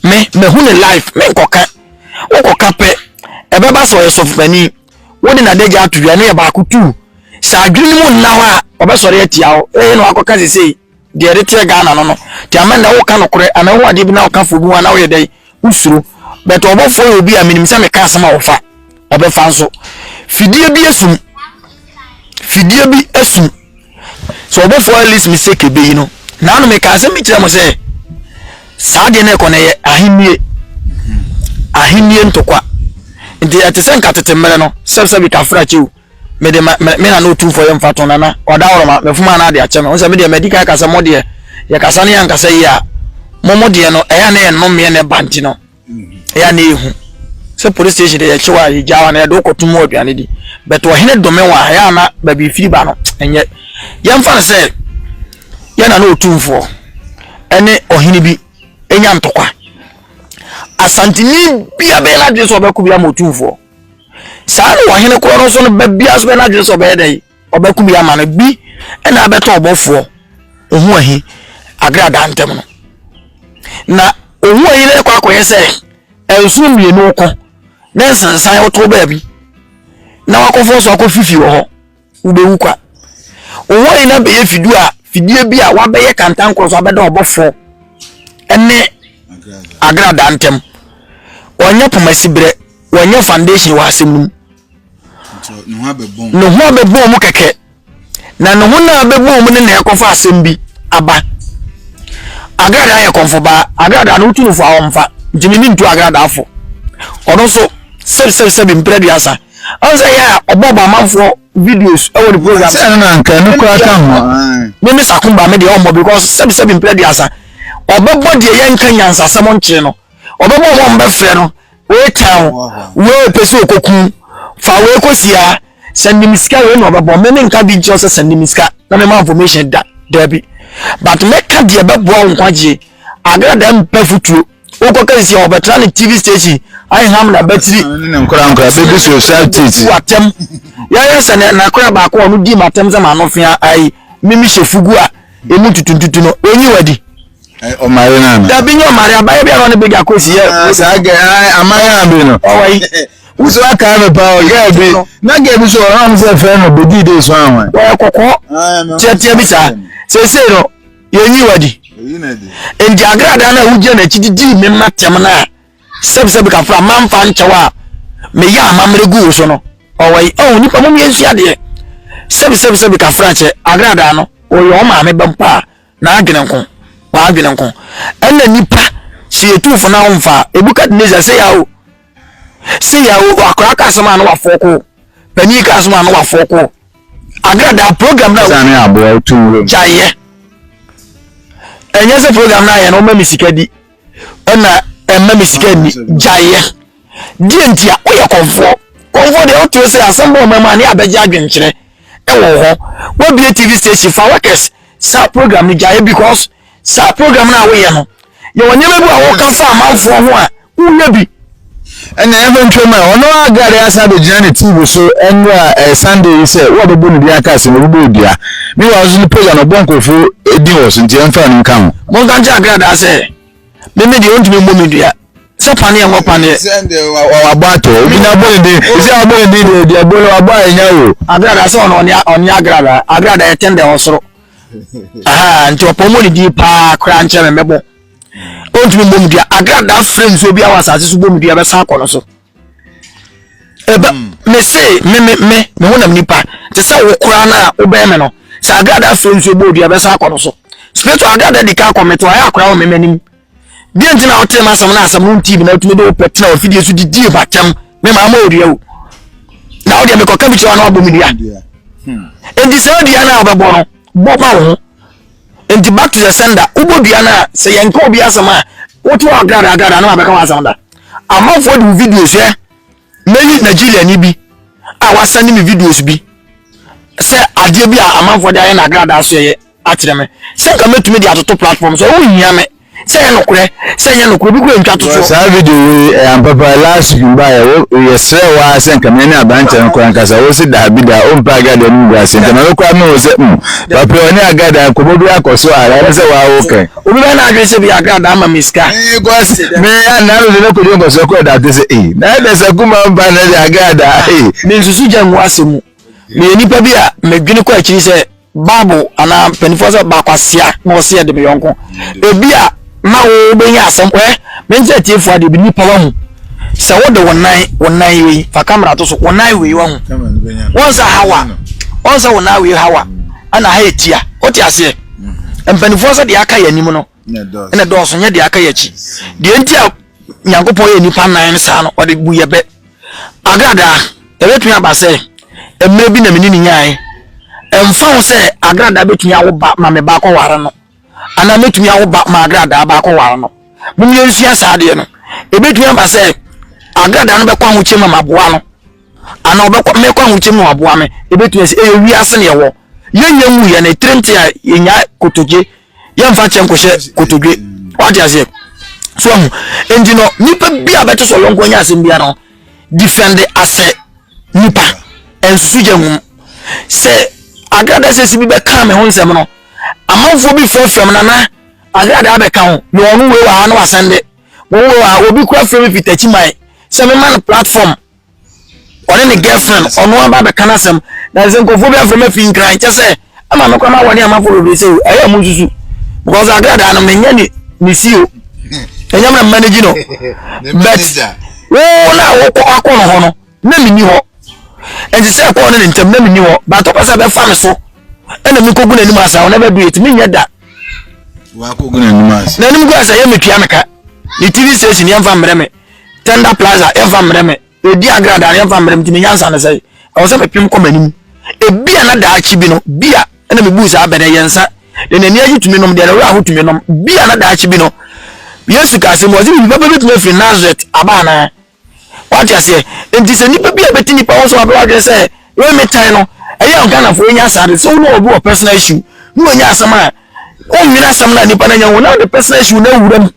me mahu ne life me nkɔka wokɔka pɛ ɛbɛba sɛ ɔyɛ sɔfopani wode nadagya ato dwa ne yɛ baako tu sɛ adwene no mu nna hɔ a ɔbɛsɔre atia wo ɛyɛ na wakɔka sesei Deɛ ɛde teɛ Ghana no no nti ama nnɛ woka nokorɛ anaa wohu adeɛ bi na woka foɔ bi ho a na woyɛ dɛn wosuro but ɔbɔfoɔ yɛ obi a menim sɛ meka asɛm a ɔfa ɔbɛfa nso fidie bi asum fidie bi asum sɛ ɔbɔfoɔ Alice Miseke bɛyi no na ano meka asɛm bi kyerɛ mo sɛ saa deɛ no ɛkɔ no ɛyɛ ahennie ahennie ntokwa nti ɛte sɛ nka tete mmerɛ no sɛbsɛbi kafra kyɛw mede ma me me nana otumfoɔ yɛ mfa to nana ɔda hɔ ma mefom a na ade akyɛ me ho sɛ me deɛ madi kan ka sɛ mo deɛ yɛkasa ne yɛnkasa yie a mo mo deɛ no ɛyɛ a na yɛnnomeɛ na ɛba nti no ɛyɛ a na ɛhu sɛ police station deɛ yɛkyew a yɛgya hɔ na yɛde wokɔto mu aduane di but ɔhene dome wɔ a ɛyɛ a na baabi firi ba no ɛnyɛ yɛmfa no sɛ yɛ nana otumfoɔ ɛne ɔhene bi ɛnya ntɔkwa asanteni bia bɛyɛ no adwene sɛ ɔbɛko bi ama otumfoɔ saa na ɔhene korɔ no nso no ba biara nso bɛyɛ n'adwene sɛ ɔbɛyɛ dɛn ɔbɛko bi ama no bi ɛna abɛtɔ ɔbɔfoɔ ohun ahi agradaa ntɛm no na ohun ahi no ɛkɔ akɔyɛ sɛ nsono mmienu ko ne nsensan ɔtɔ baabi na wakɔfɔ so akɔ fifi wɔ hɔ. wobɛwu kwa. Wo ho ayina bɛyɛ fidu a fidie bi a wabɛyɛ kantankorɔ so abɛda ɔbɔfoɔ ne agradaa ntam. Wɔnyɛ poma siberɛ, wɔnyɛ foundation wɔ asɛm no mu. Ne ho abɛbɔn mu kɛkɛ. Na ne ho no a bɛbɔn mu no na ɛkɔfa asɛm bi aba. Agradaa yɛ kɔmfobaa, agradaa no wotu no fo a ɔmfa, nti ne ne ntu agradaa fo. Ɔno nso sɛbisɛbisɛbi mprɛ aduasa. Ɔn sɛ yɛ a ɔbɔ bɔ amanfoɔ videos ɛwɔ ne program. Sɛ ɛno na nka ɛno koraa ka ho. Me me sakumba me deɛ ɔmmɔ because sɛbi sɛbi mpere aduasa ɔbɛbɔ deɛ yɛn nka nyansasɛm nkyerɛ no ɔbɛbɔ ɔmo ɔmo bɛfrɛ no wei tɛn wei pɛ sɛ okoku fa wei kosia sɛ nim sika wei na ɔbɛbɔ me me nka bi nkyerɛ sɛ sɛ nim sika na me ma information da daabi but mɛka deɛ bɛboa nkwagyeɛ agradaa mpɛ futuo. wokɔ kɛsisi a wɔbɛtra ne tv station aham na bɛtiri nkorankora bɛbi so sa titi atɛm yɛyɛ sɛ ne nakora baako a ɔno di ma atɛm sɛ ma no fea ayi mimi hyɛ fugu a emu tutuntutu no onyi wadi ɔmare no ana dabi nyɛ ɔmare abayɛ bi a ɔne bɛgya kɔsi yɛ ah, saa gɛ ah, amayɛ a bi no ɔwɔyi wusu aka mi pa o gɛɛ bi na gɛɛ bi so ɔhɔn sɛ fɛn no bedi de so ahɔn. wɔyɛ kɔkɔɔ tiɛtiɛ bi saa sese no yɛnyi wadi nti agradaa no a wogyina n'akyi de dii me mma tɛm no a sɛbsɛb kafra mamfa nkyɛw a meyɛ amammerɛ guu so no ɔwɔ yi ɔho nipa mom yɛnsua adeɛ sɛbsɛbsɛb kafra kyɛ agradaa no ɔyɛ ɔ maame bɛm paa na adwene nko wadwene nko ɛna nipa sɛ yɛtuufo no ahomfa a ɛbukadnezar sɛ yɛ o sei a akwadaa ka asɛm a na wafoɔ ko panin ka asɛm a na wafoɔ ko agradaa program na sani aboa otu nwura mu gyaeɛ ɛnyɛ sɛ program na ayɛ no ɔma mi sika di ɛna ɛma mi sika ni gyaeɛ deɛ nti a woyɛ kɔnfoɔ kɔnfoɔ deɛ wote sɛ asɛm bɔ ɔma mu a ne abɛgye adwenkyerɛ ɛwɔ hɔ wabie tv station fa workers saa program no gyaeɛ because Saa program no a woyɛ no, yɛwɔ nneɛma bi a wɔka fa amanfoɔ ho a woyɛ bi. Ɛna yɛmfa ntwam a ɔno a Gad asan abɛgyina ne TV so nnora ɛyɛ Sunday yi sɛ wɔabɛbɔ ne din aka ase na ɔbɛbɔ dua. Me wɔ nso ne page a na ɔbɔ nkurɔfo din wɔ so nti ɛmfa no nka ho. Monka nkyɛ agradaa sɛ me me deɛ ɔntumi mmɔ me dua sɛ paneɛ nkɔ paneɛ. Wabɔ atɔ obi na abɔ ne din ɛsɛ abɔ ne din deɛ deɛ bɔ no wabɔ a ɛnya o. Agradaa sɛ ɔno ɔne agradaa agradaa ɛtɛn dɛ ɔsoro. nti ɔpɔ mu ne din paa koraa nkyɛn me mɛbɔ ɔntumi mmɔ mu dua agradaa frɛ nsuo bi awɔ asase so bɔ mu dua bɛsan akɔ no so ɛbɛ hmm. me se me me me me ho nam nipa te sɛ wo koraa no a wobɛn me no sɛ agradaa frɛ nsuo bɔ dua bɛsan akɔ no so spiritual agradaa di ka akɔ me to ayɛ akora wɔ me m'anim deɛ nti na wotee m'asɛm no asɛm no ntii bi na wotumi de wo pɛ tena wafidie so didie bakyɛm me maa ma ɔdua o na wodeɛ mekɔka bi kyerɛ wa na wabɔ me dua hmm. enti saa dua no a wobɛbɔ no bɔ ma wo ho enti back to the sender wobɔ dua no a sɛ yɛnka obi asɛm a wote wɔ agrada agrada na wabɛka wɔ asɛm da amanfoɔ de wo videos ɛ Meyi Nigeriani bi a wasɛne me videos bi sɛ adeɛ bi a amanfoɔ de ayɛ no agradaa so yɛyɛ akyerɛ me sɛ nka mɛtumi de atoto platform so wohia me sɛ yɛ nokorɛ sɛ nyɛ nokorɛ obi kura ntwa to so. Saa video wei ɛyɛ ampa paa last week mba yɛ wo yɛsrɛ wo ara sɛ nka me ne aberanteɛ no kora nkasa wo se daabi daa ɔmpɛ agradaa no mu gu ase nti ma me kora me ho sɛ mm papi ɔne agradaa nkɔmmɔ bi akɔ so ara ɛne sɛ waa wo kɛn. Obi bɛyɛ n'adwene sɛ bia Accra daa ma me sika. Ee cos me a naano de na kodi nkɔsɔ kɔ ɛda te sɛ ee na ɛda sɛ kuma mpa na de Accra daa ee. Me nsusu gya ngu asɛm mu. Me yɛ nipa bi a me dwene kɔ akyiri sɛ bible anaa mpanyinfoɔ sɛ ba kwasia na ɔsɛ yɛ de me yɔnko. Ebi a ma wo bɛ nya asɛm wɛ me nkyɛ tiefoɔ adeɛ bi nipa wa hu sɛ wo de wo nan wo nan yi wei fa camera to so wo nan wei wa hu wɔn sɛ hawa wɔn sɛ wo nan wei hawa ɛna ha yɛ tia o te aseɛ. mpanimfoɔ sɛ deɛ aka yɛ anim no ɛna dɔɔso nyɛ deɛ aka yɛ akyi deɛ nti a nyankopɔn yɛ nnipa nan no saa no ɔde bu yɛ bɛ agradaa ɛbɛtumi aba sɛ mmerɛ bi na mene ne nyaeɛ ɛmfa ho sɛ agradaa bɛtumi awo ba ma me baakɔ ware no anaa mɛtumi awo ba ma agradaa baakɔ ware no momyɛ nsua saa deɛ no ɛbɛtumi aba sɛ agradaa no bɛkɔ ahokyɛ ma maboa no Anaa ɔbɛkɔ mɛkɔ ahokyem na waboa me. Ebetumi asi ɛyɛ wiase na yɛwɔ. Yɛnyɛ nwu yɛn ne tiri nti a yɛnya kotodwe. Yɛmfa kyɛ nkɔhyɛ kotodwe. Wate aseɛ? So ahu. Nti no nipa bi a bɛte sɛ ɔyɔnko anya asɛm bia no difɛnde asɛ nipa. Nsusu gya hum. Sɛ agrada sɛsi bi bɛka me ho nsɛm no amanfoɔ bi frɛfrɛ m nana agrada abɛka ho me ɔno wei wɔ ha na wasɛnde wɔn wɔ ha obi kura frɛ me fi takyi man sɛ mema no platform Ɔne ne girlfriend ɔno aba abɛka n'asɛm na sɛ nkurɔfoɔ bi afrɛ me afi nkran kyɛ sɛ ama me kora ma wɔne amanfoɔ bebree sɛ o ɛyɛ mo nsusu because agradaa no menyɛ ne ne si o ɛnyɛ me manage no but wo na wokɔ akɔ no hɔ no na menni hɔ ɛnti sɛ ɛkɔɔ no ne ntam na menni hɔ but wopɛ sɛ bɛfa me so ɛna mekɔgu n'anim asa wo na bɛdu yɛ ti menyɛ da n'anim gu asɛ yɛ metua meka ne tv station yɛmfa mmerɛ me Tender plaza yɛmfa mmerɛ me Odi agrada no yɛmfa mmerɛ me Nti me nyansa no sɛe Ɛwɔ sɛ mepem kɔ m'anim Ebia na daakye bi no Bia na mebu saa bɛ no ɛyɛ nsa Deɛ n'ani agye tumi nom Deɛ ne werɛ ho tumi nom Bia na daakye bi no Yesu kaa asɛm bi Ɔse biribi papa bɛtumi afiri Nazareth aba anaa Wate aseɛ Nti sɛ nipa bi a bɛte nipa ho so abɛ wadwene sɛ Wei me tan no Ɛyɛ a Ghanafoɔ yɛnyɛ saa de Sɛ wo ne obi wɔ personal issue Ne wanya asɛm a Wonwene asɛm no a nipa no anya ho Na wode personal issue no awura mu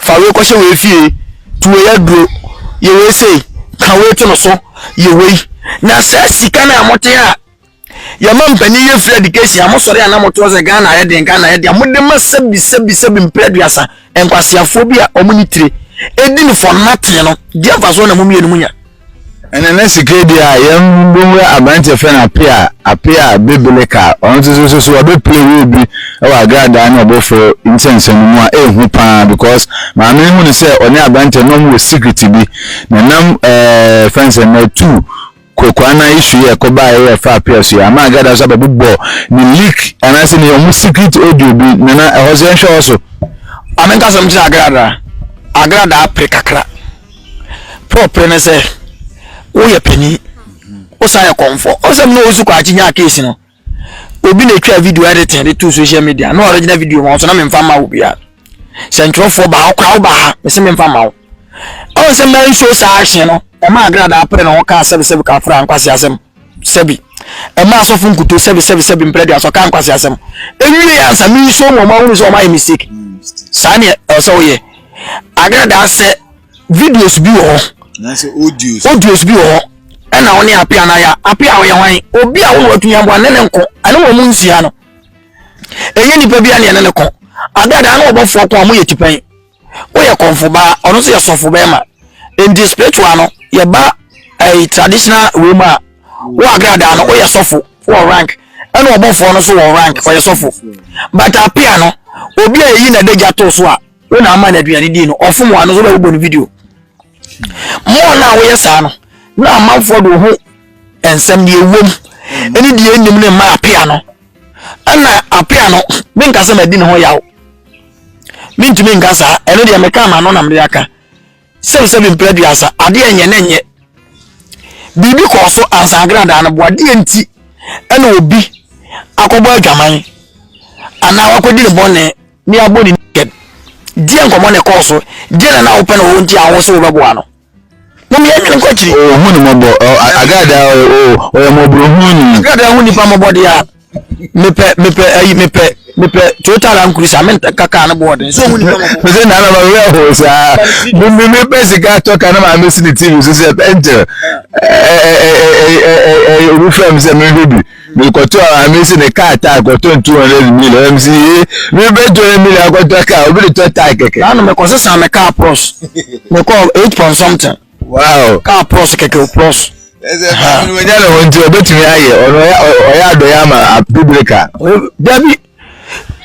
Fa wei kɔhyɛ wei fie, to wei aduro, yɛ wei sei, ka wei to no so, yɛ wei. Na saa sika no a mote a yɛma mpanin yɛ free education a mosɔre a na motoɔ sɛ Ghana ayɛ den, Ghana ayɛ den a mode ma sɛbi sɛbi sɛbi mprɛ aduasa nkwaseafoɔ bi a wɔn ne tire ɛdi no for nothing no, deɛ mfasoɔ na mo mmienu monya? Ɛna na sika di a yɛn bɛwura aberanteɛ fɛ no apea apea bebele ka ɔno nso so so so ɔbɛpele wɔ bi wɔ agradaa ne ɔbɔforo nsɛnsɛm mu a ɛhu paa because maame no hu no sɛ ɔne aberanteɛ na ɔmo wɔ secret bi na nam ɛɛ fɛn sɛ na tu kokoa na isu yɛ kɔba yɛ fa apea so yɛ ama agradaa so abɛbobɔ ne leak anaasɛ ne ɔmo secret audio bi na na ɛhɔ so yɛnhwɛ hɔ so. Maame nkasa mu kyerɛ agradaa agradaa pere kakra. Pɔpere ne sɛ woyɛ panyin, wosan yɛ kɔmfɔ. Ɔsɛm na ɔsu kɔ akyi nyaa case no. Obi na etwa video editing de to social media. Na original video ma ɔso na memfa ma wo bia. Sɛ ntwerɛfoɔ ba ɔkora wo ba ha, mese memfa ma wo. Ɔn sɛ mmaa nsuo saa ahye no, ɛma agradaa pere ne ho kaa sɛbesɛbe ka afra nkwasi asɛm sɛbi. Ɛma asɔfo nkuto sɛbesɛbe sɛbi mprɛ de asɔ ka nkwasi asɛm. Ewie ansa mensuo mu ɔmo ahunu sɛ ɔmo ayɛ mistake. Saa ne ɛwɔ sɛ woyɛ. agradasɛ videos bi wɔ hɔ audios bi wɔ hɔ ɛna wo ne ape anaya ape a ɔyɛ hwan obi a wone watumi aboa ne ne nko ɛne wɔ mu nsia no ɛnyɛ nipa bi a ne ɛne ne ko agradaa ne ɔbɔfoɔ ko a moyɛ tipɛn woyɛ kɔmfo baa ɔno nso yɛ sɔfo bɛrima nti spiritual no yɛba ɛyi traditional wei mu a wo agradaa no woyɛ sɔfo wɔ rank ɛna ɔbɔfoɔ no so wɔ rank ɔyɛ sɔfo but apea no obi a yɛyi na adagya too so a wo na ama no aduane dii no ɔfom wɔ ano so bɛbobɔ no video mmɔɔ no a woyɛ saa no na amanfoɔ de wo ho nsɛm deɛ ɛwom ɛne deɛ ɛnim no mma apea no ɛna apea no menka sɛ madi ne ho yaw mentumi nka saa ɛno deɛ meka ma no na mede aka Sɛm sɛ bi mpere aduasa, adeɛ nyɛ ne nyɛ. Biribi kɔɔ so ansa agradaa no boa. Deɛ nti ɛna obi akɔbɔ adwaman anaa wakɔdi ne bɔne ne abɔ ne naked. Deɛ nkɔmmɔ na ɛkɔɔ so. Deɛ na na wopɛ na wɔwɔ nti a wo so wobɛboa no. Mom yɛn nwene nkɔ akyiri. Ɔhu ne mmɔbɔ. Agradaa ɔyɛ ɔyɛ mmɔborɔhunu ni. Agradaa hu nnipa mmɔbɔ deɛ a. mepɛ mepɛ ayi mepɛ mepɛ toyota land cruiser me nka kaa no bɔɔden so mu nina mɔbɔ. mese na anaba wura hɔ saa mimi mi pɛ sika tɔ ka na maa mi si ne tv so sɛ pɛnkyɛ ɛɛ obi fɛ mi sɛ mi hwɛ bi mi kɔtɔ a mi si ne kaa taa kɔtɔ n two hundred million ɛmi si ye mi bɛ two hundred million akɔtɔ kaa obi de tɔ taa kɛkɛ. na anam ɛkɔ sisan mi kaa pros mi kɔ eight point something. wow kaa pɔs kɛkɛ pɔs. ɛsɛ maa mi wanya ne ho nti ɔbɛtumi ayɛ ɔno ɔyɛ adɔyɛ ama bibire ka. dabi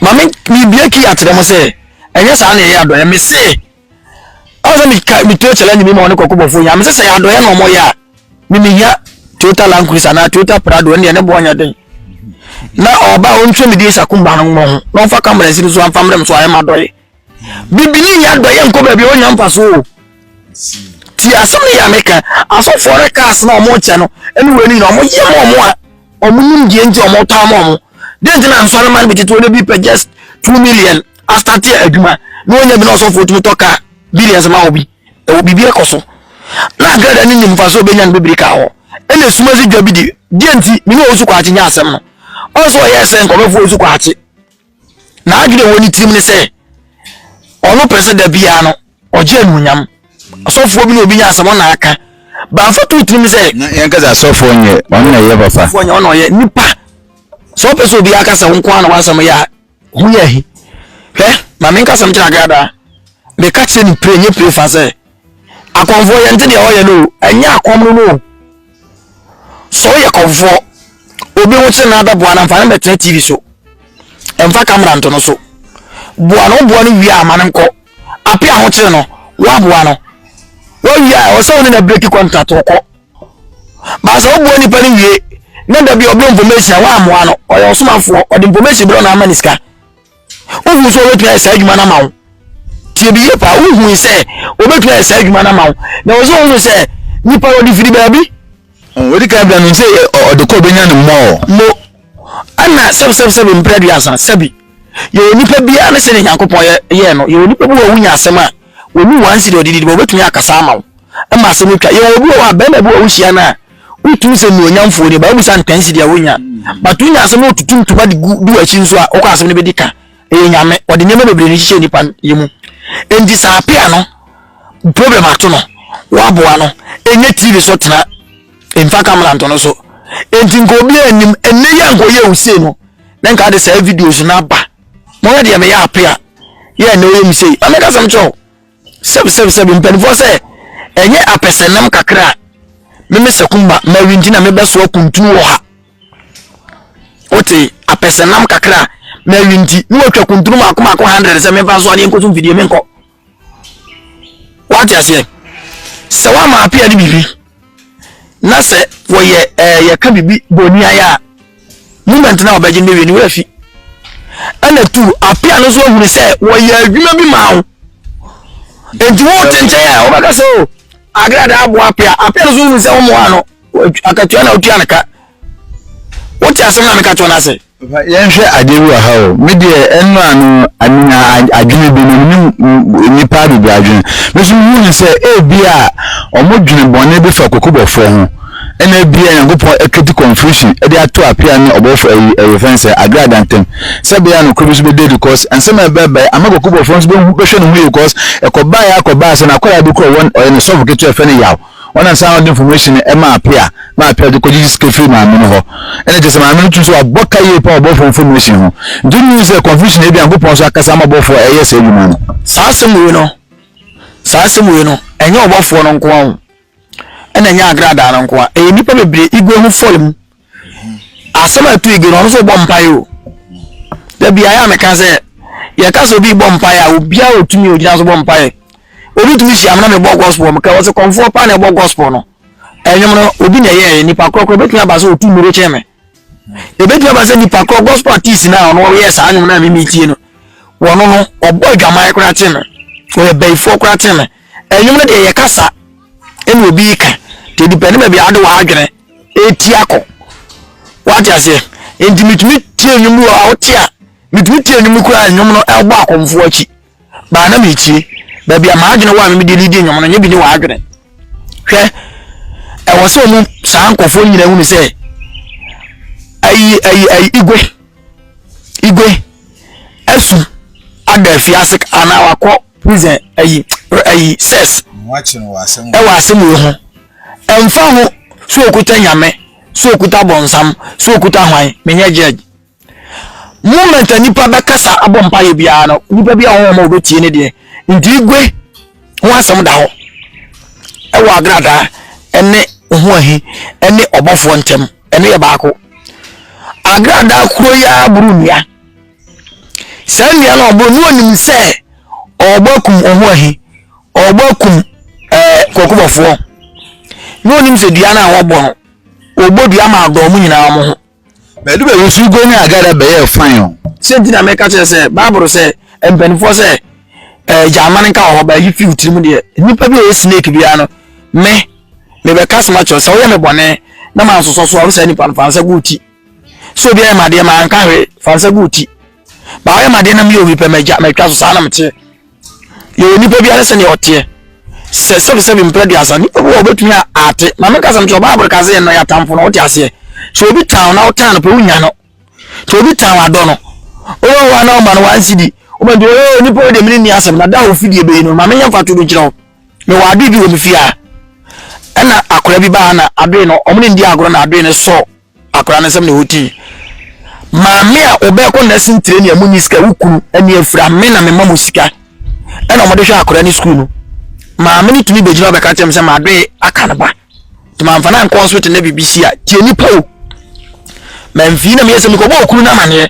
maame bibie ki akyerɛ mo sɛ ɛnyɛ saa na ɛyɛ adɔyɛ me se ɔsɛ mi ka mi to challenge mi ma ɔne kɔkɔ bɔfo yɛ ame sɛ sɛ yɛ adɔyɛ na ɔmo yɛ a mi mi hia toyota land cruiser anaa toyota prado ɛnna ɛne bɔ ɔnyɛ den na ɔba ɔntwe mi di esakumba no ho na ɔfa kamara si no so anfa mmerɛ mi so ayɛ ma dɔyɛ. bibini yɛ adɔyɛ nkɔ baabi a ɔnya mfa so o ti asɛm no yɛ meka asɔfoɔ no kaa sena ɔmo kyɛ no ɛne wei no nyina ɔmo yɛ ma ɔmo a ɔmo nim deɛ nti ɔmo tɔ ama ɔmo deɛ nti na nsɔre ma no bi tete ɔde bi pɛ just two million astate adwuma na ɔnya bi na ɔsɔfoɔ tumi tɔ kaa billions ma obi ɛwɔ biribi ɛkɔ so na agada ne nim mfa so ɔbɛnya no bɛbiri ka hɔ ɛna esuma si dwa bi di deɛ nti mene ɔwɔ su kɔ akye nyɛ asɛm no ɔsɛ ɔyɛ sɛ nkɔmɛfoɔ su kɔ akye N'adwene a ɛwɔ ne tirim ne sɛ ɔno pɛ sɛ da biara no ɔgye anuonyam. Asɔfoɔ bi na obi nya asɛm ɔna aka. Bamfa to tirim sɛ. Na yɛn kasa asɔfoɔ nyɛ ɔno na ɛyɛ papa. Asɔfoɔ nyɛ ɔno na ɔyɛ nipa. Sɛ ɔpɛ sɛ obi aka sɛ wo nko ara na w'asɛm yɛ a ho yɛ ahi. Hwɛ ma me nkasɛm kyerɛ agradaa. Meka kyerɛ ne pire nye pire fa sɛ. Akɔmfoɔ yɛnte deɛ ɔyɛ no o. Ɛnyɛ akɔm no no o. Sɛ woyɛ kɔmfoɔ, obi ho kyere no abɛboa no mfa no mmɛtena TV so. Mfa camera nto no so. Boa no, woboa no wie a ma no nkɔ. Ape ahokyere no, woaboa no. Wowie a ɛwɔ sɛ wo ne no break contract wokɔ. Baa sɛ woboa nipa no wie na da bi ɔbrɛ information a woammoa no, ɔyɛ ɔsomafoɔ, ɔde information brɛ wo na ama no sika. wohu sɛ wɔbɛtumi ayɛ saa adwuma no ama wo tie bi yie paa wohu sɛ wɔbɛtumi ayɛ saa adwuma no ama wo na wɔ sɛ wohu sɛ nipa wɔde firi baabi wɔde ka bia no sɛ ɔde kɔ bɛnya no mmɔɔ mo ɛna sɛbsɛbsɛbi mprɛ aduasa sɛbi yɛwɔ nipa biara ne sɛdeɛ nyankopɔn yɛɛ no yɛwɔ nipa bi wɔ wonya asɛm a wɔnu wɔn ansiri ɔde didi bɔ wɔbɛtumi akasa ama wo ɛma asɛm atwa yɛwɔ bi wɔ hɔ a bɛrima bi wɔ wohyia no a Wotumi sɛ nnuonyamfoɔ ni, Bible sɛ anka nsi deɛ wonya. But wonya asɛm na wotutu ntoma de gu di w'akyi nso a, wokɔ asɛm no bɛdi ka. Ɛyɛ nyame, ɔde nneɛma bebree no hyehyɛ nipa yɛ mu. Enti saa apea no, problem ato no, woaboa no, ɛnyɛ TV so tena, mfa kamera nto no so. Enti nka obi anim, ɛnɛ yi anka ɔyɛ wo sei no, na nka ade saa videos no aba. Mɔyɛ deɛ meyɛ apea, yɛ ɛnɛ ɔyɛ me sei. Amɛka sɛm kyɛw, Sɛbsɛbsɛb, Mpanimfoɔ sɛ, Ɛnyɛ apɛsɛnam kakra a me me Sakumba Mary nti na mebɛsoa kuntunu wɔ ha. Wote, apɛsɛnam kakra a Mary nti na watwa kuntunu mako mako hundred sɛ memfa nsoa ne nkɔso mfidie menkɔ. Wate aseɛ? Sɛ woama apea de biribi na sɛ wɔyɛ ɛɛ eh, yɛka biribi boniayɛ a moment na wɔbɛgye no wie no wɔafi ɛna tu apia no nso ahunu sɛ wɔyɛ adwuma bi maa wo nti wo te nkyɛn a wɔbɛka sɛ o oh, agrada aboa apia apia no nso ahunu sɛ wɔmmoa no akatua na wotua no ka wote asɛm na meka kyerɛ no ase Yɛnhwɛ adze bi wɔ ha o, me deɛ ɛno ano menya adwene bi na menim nnipa bebree adwene. Me nso mehu no sɛ ebia wɔdwene bɔne bi fa kokobɔfoɔ ho. Ɛna ebia Nyankopɔn ɛkreti confusion de ato apia ne ɔbɔfo ayi ɛyɛfɛn sɛ agrada ntam. Sɛ bɛyɛ a nokorɛ bi nso bɛda adi cos nsɛm a ɛbɛbae ama kokobɔfoɔ nso bɛhu bɛhwɛ ne ho yie cos ɛkɔbaeɛ ara kɔbaa sɛ n'akwadaa bi kora ɔwɔ ɔyɛ ne sɔfo ketewa yɛfrɛ no Yaw. Ɔnam saa na ɔde information no ɛma apea na apea de kɔgyegye sika firi maame no hɔ ɛna kyerɛ sɛ maame no tum sɛ wabɔ ka yie paa wɔ bɔfoɔ information ho nti wonnim hu sɛ confusion ebi Nyankopɔn nso akasa ama bɔfoɔ ɛyɛ saa adwuma no. Saa asɛm wei no saa asɛm wei no ɛnyɛ ɔbɔfoɔ no nko ara o ɛna ɛnyɛ agradaa no nko ara ɛyɛ nnipa bebree ego ho fɔle mu. asɛm a ɛto igi no ɔno nso bɔ mpaeɛ o da biara yɛ a meka sɛ yɛka sɛ obi bɔ mpaeɛ a obiara ɔtumi ɔgyina so bɔ mpaeɛ obi tumi hyia mena mebɔ gospel meka wɔ sɛ kɔmfoɔ paa na ɛbɔ gospel no ɛnwom no obi na ɛyɛɛ nipa korɔkorɔ bɛtumi aba sɛ ɔtu mmuro kyɛn me ɛbɛtumi aba sɛ nipa korɔ gospel artist no a ɔno ɔyɛ saa nwom no a memetie no wɔno no ɔbɔ adwaman koraa te me ɔyɛ bayifoɔ koraa te me ɛnwom no deɛ yɛkasa ɛna obi ka nti depɛne baabi ade wɔ adwene ɛreti akɔ wate aseɛ nti metumi tie nnwom bi wɔ a wote a metumi tie nnwom koraa nnwom no ɛbɔ akɔmfoɔ akyi baa na metie baabi a maadwene wɔ a memede ne di nnwom no nyɛ bi ne w'adwene hwɛ ɛwɔ sɛ ɔmu saa nkɔfoɔ nyina hunu sɛ ayi ayi ayi igwe igwe asu ada afiase anaa wakɔ prison ayi ayi sɛs ɛwɔ asɛm wei ho Ɛmfa ho sɛ ɔkuta Nyame, sɛ ɔkuta bɔnsam, sɛ ɔkuta hwan, menyɛ judge. Moment a nipa bɛkasa abɔ mpaeɛ biara no, nipa bi a wɔn wɔn a wɔbɛtie ne deɛ. Nti igwe ho asɛm da hɔ ɛwɔ agradaa ɛne ho ahi ɛne ɔbɔfoɔ ntɛm ɛno yɛ baako. Agradaa koro yi ara boro nnua. Saa nua no ɔbɔ no onim sɛ ɔbɔ akum ɔho ahi ɔbɔ akum ɛɛ eh, kɔkɔbɔfoɔ na onim sɛ dua no a wɔbɔ no wɔbɔ dua ma adɔn mu nyinaa mo ho. bɛdu bɛ wusu go ne agada bɛyɛ fan o. sɛ nti na mɛka kyerɛ sɛ baabolo sɛ mpanimfoɔ sɛ ɛɛ eh, gyaama no nka wɔ hɔ bɛɛ yi fi tirim deɛ nipa bi a ɛyɛ snake biara no me mebɛka soma kyerɛ sɛ woyɛ me bɔne na mansosɔ so a wo saa nipa no fa nsa gu ti sɛ obi ayɛ me adeɛ ma anka hwee fa nsa gu wo ti ba woayɛ me adeɛ na meyɛ obi pɛ magya matwa so saa na meteɛ yɛwɔ nipa biara sɛdeɛ ɔteɛ sɛ sɛbisɛbi mprɛ duasa nipa bi wɔ ɔbɛtumi a ate ma meka sɛm kyɛ ɔbaabore ka sɛ yɛ nnɔyɛ atamfo no wote aseɛ sɛ obi tan na wotan no pɛ wonya no sɛ obi tan wadɔ no wowɔ wa na woma no wansi di woma nti wɔyɛ nipa wɔ deɛ mene nni asɛm na da a ofidie bɛyi no ma menyɛ mfa to no nkyerɛ wo mewɔ adoe bi wɔ me fie a ɛna akora bi baa na adoe no ɔmo ne ndi agorɔ na adoe no sɔɔ Akwadaa no nsɛm na ɛwɔ ti. Maame a ɔbɛkɔ nursing training a munni sika, wo kunu ani afira, me na mema mo sika ɛna wɔde hwɛ akwadaa no sukuu no. Maame no tumi bɛgyina bɛka kyerɛ me sɛ madoe aka no ba. Nti mamfa no ankɔ hospital na biribi si a, tie nipa o. Mamfii na meyɛ sɛ mekɔbɔ okunu no amaneɛ.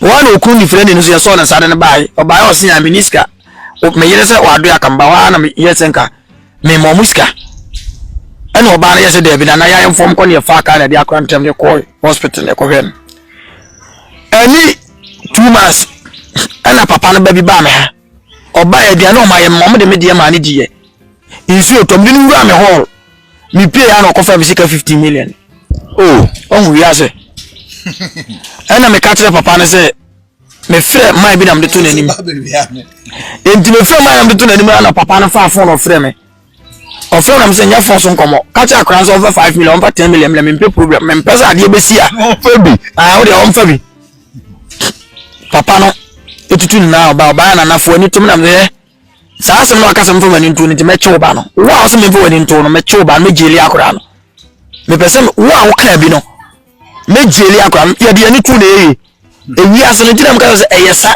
Woana okunu ne firani no so yɛ sɔɔ na saa de no bae ɔbae ɔse yaa menni sika me yere sɛ wadoe aka meba hɔ a na meyɛ sɛ nka me ma ɔmo sika ɛna ɔbaa no yɛ sɛ daabi na na yɛayɛ mfɔm kɔ ne yɛfaa kaa na ɛde akora ntɛm de kɔɔ hospital na ɛkɔhwɛ no ɛne two months ɛna papa no ba bi baa me ha Ɔbaeɛ, aduane a ɔmayɛ mma, ɔde me deɛ maa no diiɛ. Nsuo tɔ, mede no wuraa me hall. Mepueeɛ a na ɔkɔfa me sika 15 million. Oh, ɔhu wiase. Ɛna meka kyerɛ papa no sɛ, mefrɛ man bi na mede to n'anim. Enti mefrɛ man na mede to n'anim na papa no faa fon ɔfrɛ me. ɔfrɛ nam sɛ nyɛ fon so nkɔmmɔ ka kyerɛ akora sɛ ɔmfa five million ɔmfa ten million mmerɛ mempɛ program mempɛ sɛ adeɛ bɛsi a ɔmfa bi ah, wodeɛ ɔmfa bi papa no ɛtutu nyinaa ɔba ɔbaa nanafoɔ ani tom nam sɛ saa asɛm no aka sɛ mfa w'ani nto no nti mɛkye wo ba no wo a wo sɛ memfa w'ani nto no mɛkye wo ba no mɛgyeli akora no mepɛ sɛ wo a wokaa bi no mɛgyeli akora no yɛde ani to na ɛyɛ ewiase no gyina mu ka sɛ ɛyɛ sa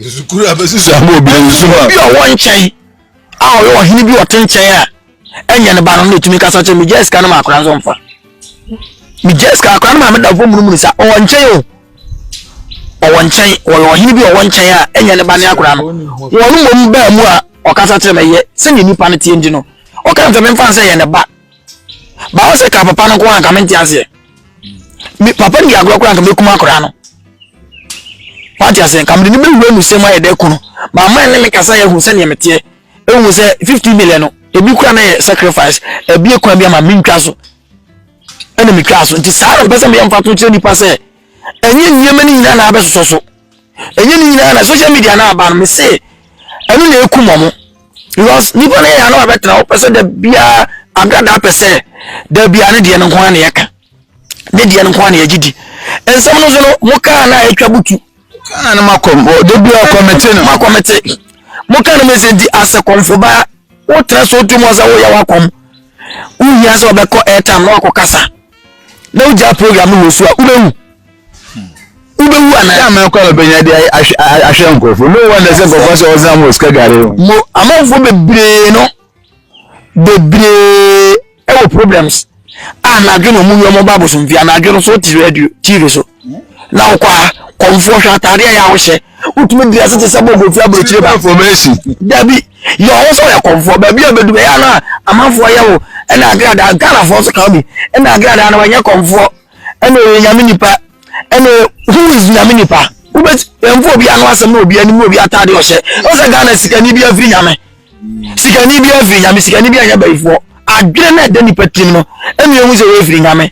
sukuu abɛsi so ama obi nso a obi a ɔwɔ nkyɛn a ɔyɛ ɔhene bi ɔte nkyɛn a ɛnyɛ ne ba no na ɛtumi kasa kyɛ megyaa sika no ma akora nso mfa megyaa sika akora no ma meda fo munumunu sa ɔwɔ nkyɛn o ɔwɔ nkyɛn ɔyɛ ɔhene bi ɔwɔ nkyɛn a ɛnyɛ ne ba ne akora no wɔn mmom baa mu a ɔkasa kyerɛ me yɛ sɛdeɛ nnipa no teɛ nti no ɔka sɛ memfa sɛ yɛ ne ba báwo sɛ ka papa no nko anka mente aseɛ me papa di agorɔ koraa nka mɛkum akoraa no wate aseɛ nka mede ne bɛwura mu sɛm ayɛ dɛ ko no maama ne me kasa yɛhu sɛdeɛ meteɛ ɛhu sɛ 50 million no ebi kora na yɛ sacrifice ebi kwan bi ama mentwa so ɛna metwa so nti saa na mpɛ sɛ meyɛ mfa to kyerɛ nnipa sɛ ɛnyɛ nneɛma no nyinaa na abɛsosɔ so ɛnyɛ ne nyinaa na social media na aba no me se ɛno na ekum ɔmo because nipa no yɛ ano abɛtena ɔpɛ sɛ da biara agradaa pɛ sɛ da biara ne deɛ no nko ara na yɛka ne deɛ no nko ara na yɛgye di nsɛm no nso no mo kaa na atwa butu kaa no ma kɔm da biara kɔmete no ma kɔmete mo kaa no ma ɛsɛ nti asɛ kɔmfo baa wotena so wotu mu ɔsɛ woyɛ wakɔm wohia sɛ ɔbɛkɔ airtime na wakɔ kasa na wogyaa program no wɔ su a wobɛwu wobɛwu anaa. yà máa kọ́ ẹ̀ bẹ̀yẹn adé ahwẹ́ nkurọ̀fọ́ no wọ́n ẹ̀sẹ̀ nkurọ̀fọ́ sọ ọ̀sán mu òsìkà gàrí. mo amanfo bebree no bebree ɛwɔ problems a n'adwene wɔn yɛ wɔn ba abosomfia n'adwene so ti radio tv so. na wokɔ a kɔmfoɔ hwɛ ataadeɛ yɛ a wohyɛ wotumi dira se te sɛ bɔbɔfi aburokyire ba dabi yɛ ɔwo sɛ ɔyɛ kɔmfoɔ baabi a bɛdu bɛyɛ no a amanfoɔ yɛ wo ɛna agradaa ghanafoɔ nso ka bi ɛna agradaa no wɔnyɛ kɔmfoɔ ɛna ɔyɛ nyame nipa ɛna who is nyame nipa wobɛti ɛmfo obi ano asɛm na obi anim obi ataade ɔhyɛ ɔsɛ ghana sikani bi afiri nyame sikani bi afiri nyame sikani bi anyɛ bayifoɔ adwene na ɛda nipa tirim no ɛna ehu sɛ wɔafiri nyame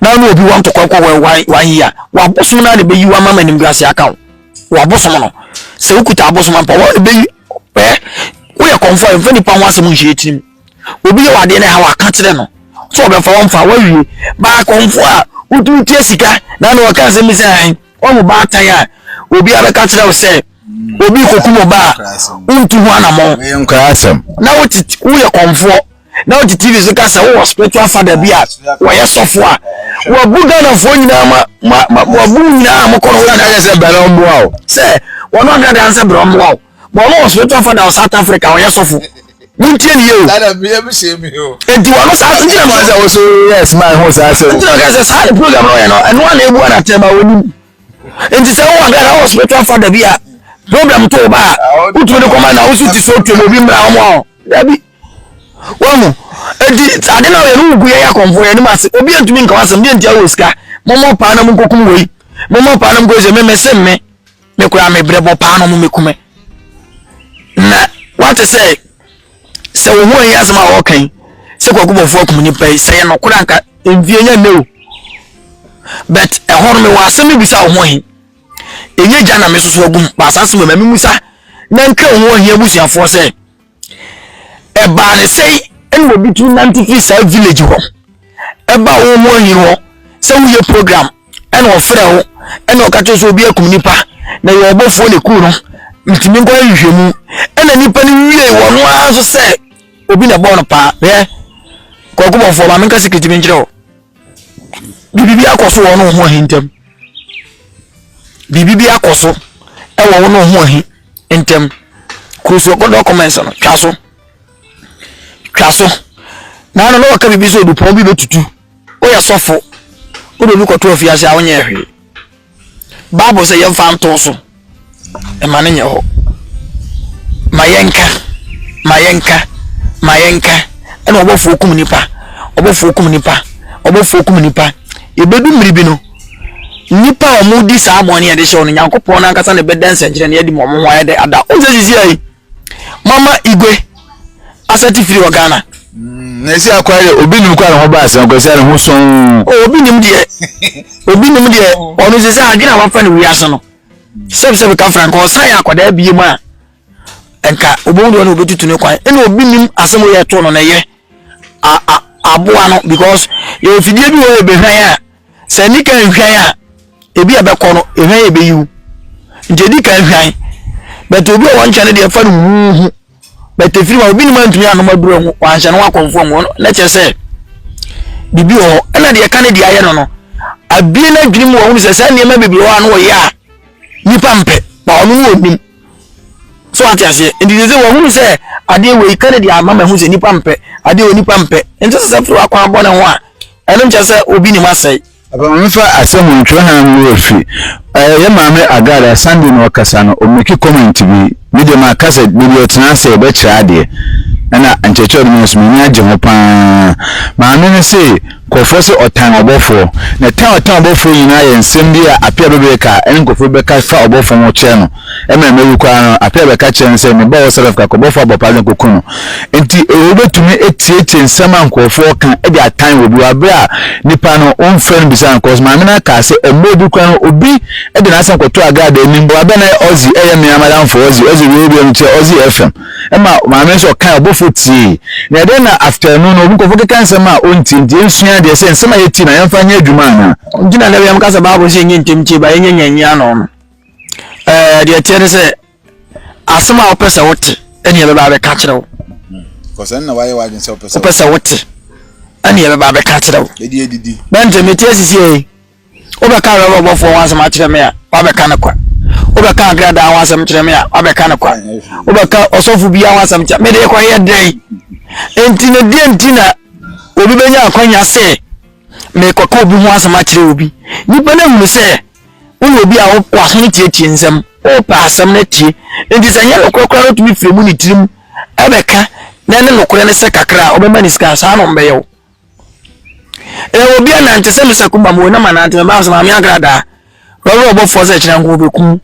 na ɔne obi wɔ ntɔkwa kɔ wɔ one one year wabosom na ne bɛyi wa mama nim grace aka wo wabosom no sɛ wokuta abosom ampa wɔ ɛbɛyi ɛ woyɛ kɔnfɔ a mfa nipa ho asɛm nhyɛ tirim obi yɛ wadeɛ no ha waka kyerɛ no sɛ ɔbɛfa wɔmfa wawie baa kɔnfɔ a wotumi tia sika na na ɔka asɛm bi sɛ han ɔmo baatan a obi abɛka kyerɛ wo sɛ obi kɔkum ɔba a wontu ho anammɔn na woyɛ kɔnfoɔ na wote tv so ka sɛ wowɔ spiritual father bi a wɔyɛ sɔfo a wabu ghanafoɔ nyinaa ma ma ma wabu nyinaa a mokɔ no nyinaa yɛ sɛ bɛrɛ mmoa o sɛ wɔn ɔka dan sɛ bɛrɛ mmoa o bɔn no wɔ spiritual father wɔ south africa wɔyɛ sɔfo wontie ne yie o dada mi ebi se mi o. eti wɔn no saa ntina mi sɛ woso yɛ smile ho saa sɛ ntina ka sɛ saa de program na ɔyɛ no ɛno a na ebu ana tɛma wɔn nim nti sɛ wɔn ɔka na wɔ spiritual father bi a program to o ba a wotumi de kɔma na wosu ti so tuo obi mmira wɔn a dabi. Wahu? Enti, sɛ ade no a wɔyɛ no wo gu yɛn akɔmfo, yɛn anim ase, obi antumi nka w'asɛm, deɛ nti a wowɔ sika? Mommɔ paa na monkɔkum wei. Mommɔ paa na monkɔyɛ sɛ me mese me, me koraa me brɛ bɔ paa na mommɛkume. Na wate sɛ, sɛ wo ho ahi asɛm a wɔka yi, sɛ kwakubɔfoɔ akum nipa yi, sɛ yɛ nɔkorɛ anka mfie nyɛ nnɛ o. But ɛhɔ no mewɔ asɛm bi bisa wo ho ahi. Ɛnyɛ gya na mesoso agum, baasase wɔ ma me musa na nka wo ho ahi abusuafoɔ sɛ, ɛbaa ne sɛn ɛna obi tumi nante firi saa village hɔ ɛba wɔn ho ahi hɔ sɛ woyɛ program ɛna ɔfrɛ wo ɛna ɔka kyerɛ sɛ obi akum nipa na yɛ ɔbɔfoɔ na ɛku no ntumi nkɔ nhwehwɛ mu ɛna nipa no wie wɔn ara nso sɛ obi na ɛbɔɔ no paa yɛ kɔkɔ bɔfoɔ maame nka sikiriti bi nkyerɛ o biribi akɔ so wɔn ho ahi ntɛm biribi akɔ so ɛwɔ wɔn ho ahi. ntɛm. Cruise wɔ kɔdɔ comments no twa so twa so na ano na wɔka biribi sɛ odupɔn bi bɛtutu woyɛ sɔfo wode obi kɔto afiase a wonyɛ hwee bible sɛ yɛmfa nto so ɛma no nyɛ hɔ ma yɛnka ma yɛnka ma yɛnka ɛna ɔbɔfoɔ kum nipa ɔbɔfoɔ kum nipa ɔbɔfoɔ kum nipa yɛbɛdu mmiri bi no Nnipa a wɔredi saa bɔne a yɛde hyɛ wɔn no, Nyankopɔn no ankasa na ɛbɛda nsɛnkyerɛnne adi ma wɔn ho ayɛ dɛ ada. Wɔn sɛ sisi ayi, mama igwe asɛte firi wɔ Ghana. Mm, na esi akwa yɛ obi nim kwa ne ho ba asɛn kwa esi ne ho sɔn. Oh, obi nim deɛ, obi nim deɛ, ɔno sɛ sɛ adwene a wafa no wiase no, sɛbsɛb ka franka ɔsan yɛ akwadaa bie mu a, nka obohu deɛ ɔne obetutu ne kwan. Ɛna obi nim asɛm yɛ ɛto no na ɛyɛ aboa no because yɛ ofidie bi wɔ yɛ behwɛn a sɛ nni kan nhwan a ebi a ɛbɛkɔ no ehwan yɛ bɛyi wo nti edi kan hwan bɛtɛ obi a wɔn nkyɛn no deɛ ɛfa no huuhu bɛtɛ firi ma obi nim antumi anom aduro ho wɔanhyɛ no wakɔnfoɔ ho na kyerɛ sɛ biribi wɔ hɔ ɛna deɛ ɛka ne deɛ ayɛ no no abie no adwene mu wɔn sɛ saa nneɛma bebree hɔ a no wɔyɛ a nipa mpɛ na ɔno no wɔnim so ate aseɛ nti sɛ sɛ wɔhunu sɛ adeɛ wei ka ne deɛ ama ma ɛho sɛ nipa mpɛ adeɛ wɔ nipa mpɛ nti sɛ sɛ firi wakɔn abɔ ne ho a Ɛno nkyerɛ sɛ obi nim asɛe. Afei memfa asɛm wɔ ntwerɛhan mu wɔ fi. Ɛyɛ yɛ maame Agard a Sunday na ɔkasa no, ɔmake comment bi. Me deɛ maka sɛ da bi ɔtena ase ɔbɛkyerɛ adeɛ. Ɛna nkyerɛkyerɛ ɔde mae nso m'ani agye ho pa ara. Maame no se nkurɔfoɔ se ɔtan ɔbɔfoɔ. Na tan a ɔtan ɔbɔfoɔ nyinaa yɛ nsɛm bi a apeabebere ka a ɛne nkurɔfoɔ bi bɛka fa ɔbɔfoɔ ho kyerɛ no. Mbrɛ meruku ara no, Apiah bɛka kyerɛɛ no sɛ, Mebɔɔ wo serɛf kakɔ, bɔfo abɔfra dze nkoku no. Ntsi wobetumi etsieetsie nsɛm a nkorɔfo rekã dze atan obi wɔ aber a nyimpa no ɔmmfrɛ no mmbisa no? Cos maame no akaa sɛ mber bi koraa no obi dze n'asɛm kɔtoo agradaa enyim. Ɔba bɛn na ɔdze yɛ me amadamfo? Ɔdze ɔdze wiei wiei no kyerɛ ɔdze yɛ FM. Mma maame no so ɔkae, ɔbɔfo tsiei. Na dɛn na after no no obi nkorɔfo keka nsɛm a onntsie ntsi yensua adze sɛ nsɛm a yetsie no yɛmfa nyɛ edwuma anaa? Ntsi na dɛm yɛ mekã sɛ Bible se yɛnyɛ ntsɛm tsie ba yɛnyɛ nyia enyi ano no. ɛɛ deɛ teɛ ne sɛ asɛm a wopɛ sɛ wote ɛne ɛbɛba abɛka kyerɛ wo wopɛ sɛ wote ɛne ɛbɛba abɛka kyerɛ wo bɛnte mete asisiei wobɛka rɛbɔbɔfoɔ ho asɛm akyerɛ me a wabɛka no kwa wobɛka agradaa ho asɛm kyerɛ me a wabɛka no kwa wobɛka ɔsɔfo bia ho asɛm kyerɛ mede kɔyɛ dɛn enti ne deɛ nti na obi bɛnya akwanya sɛ mekɔka obi ho asɛm akyerɛ obi nnipa no ahunu sɛ woyɛ obi a wokɔ aso no tietie nsɛm wopɛ asɛm no atie nti sɛ nyɛ nokorɛ koraa no tumi firi mu ne tirim ɛbɛka na ne nokorɛ no sɛ kakra a wobɛma ne sika saa no mbɛyɛ wo ɛwɔ obi anante sɛ mesa kumba mu na manante mɛma sɛ maame agradaa wɔwerɛ ɔbɔfoɔ sɛ kyerɛ nko wobɛkum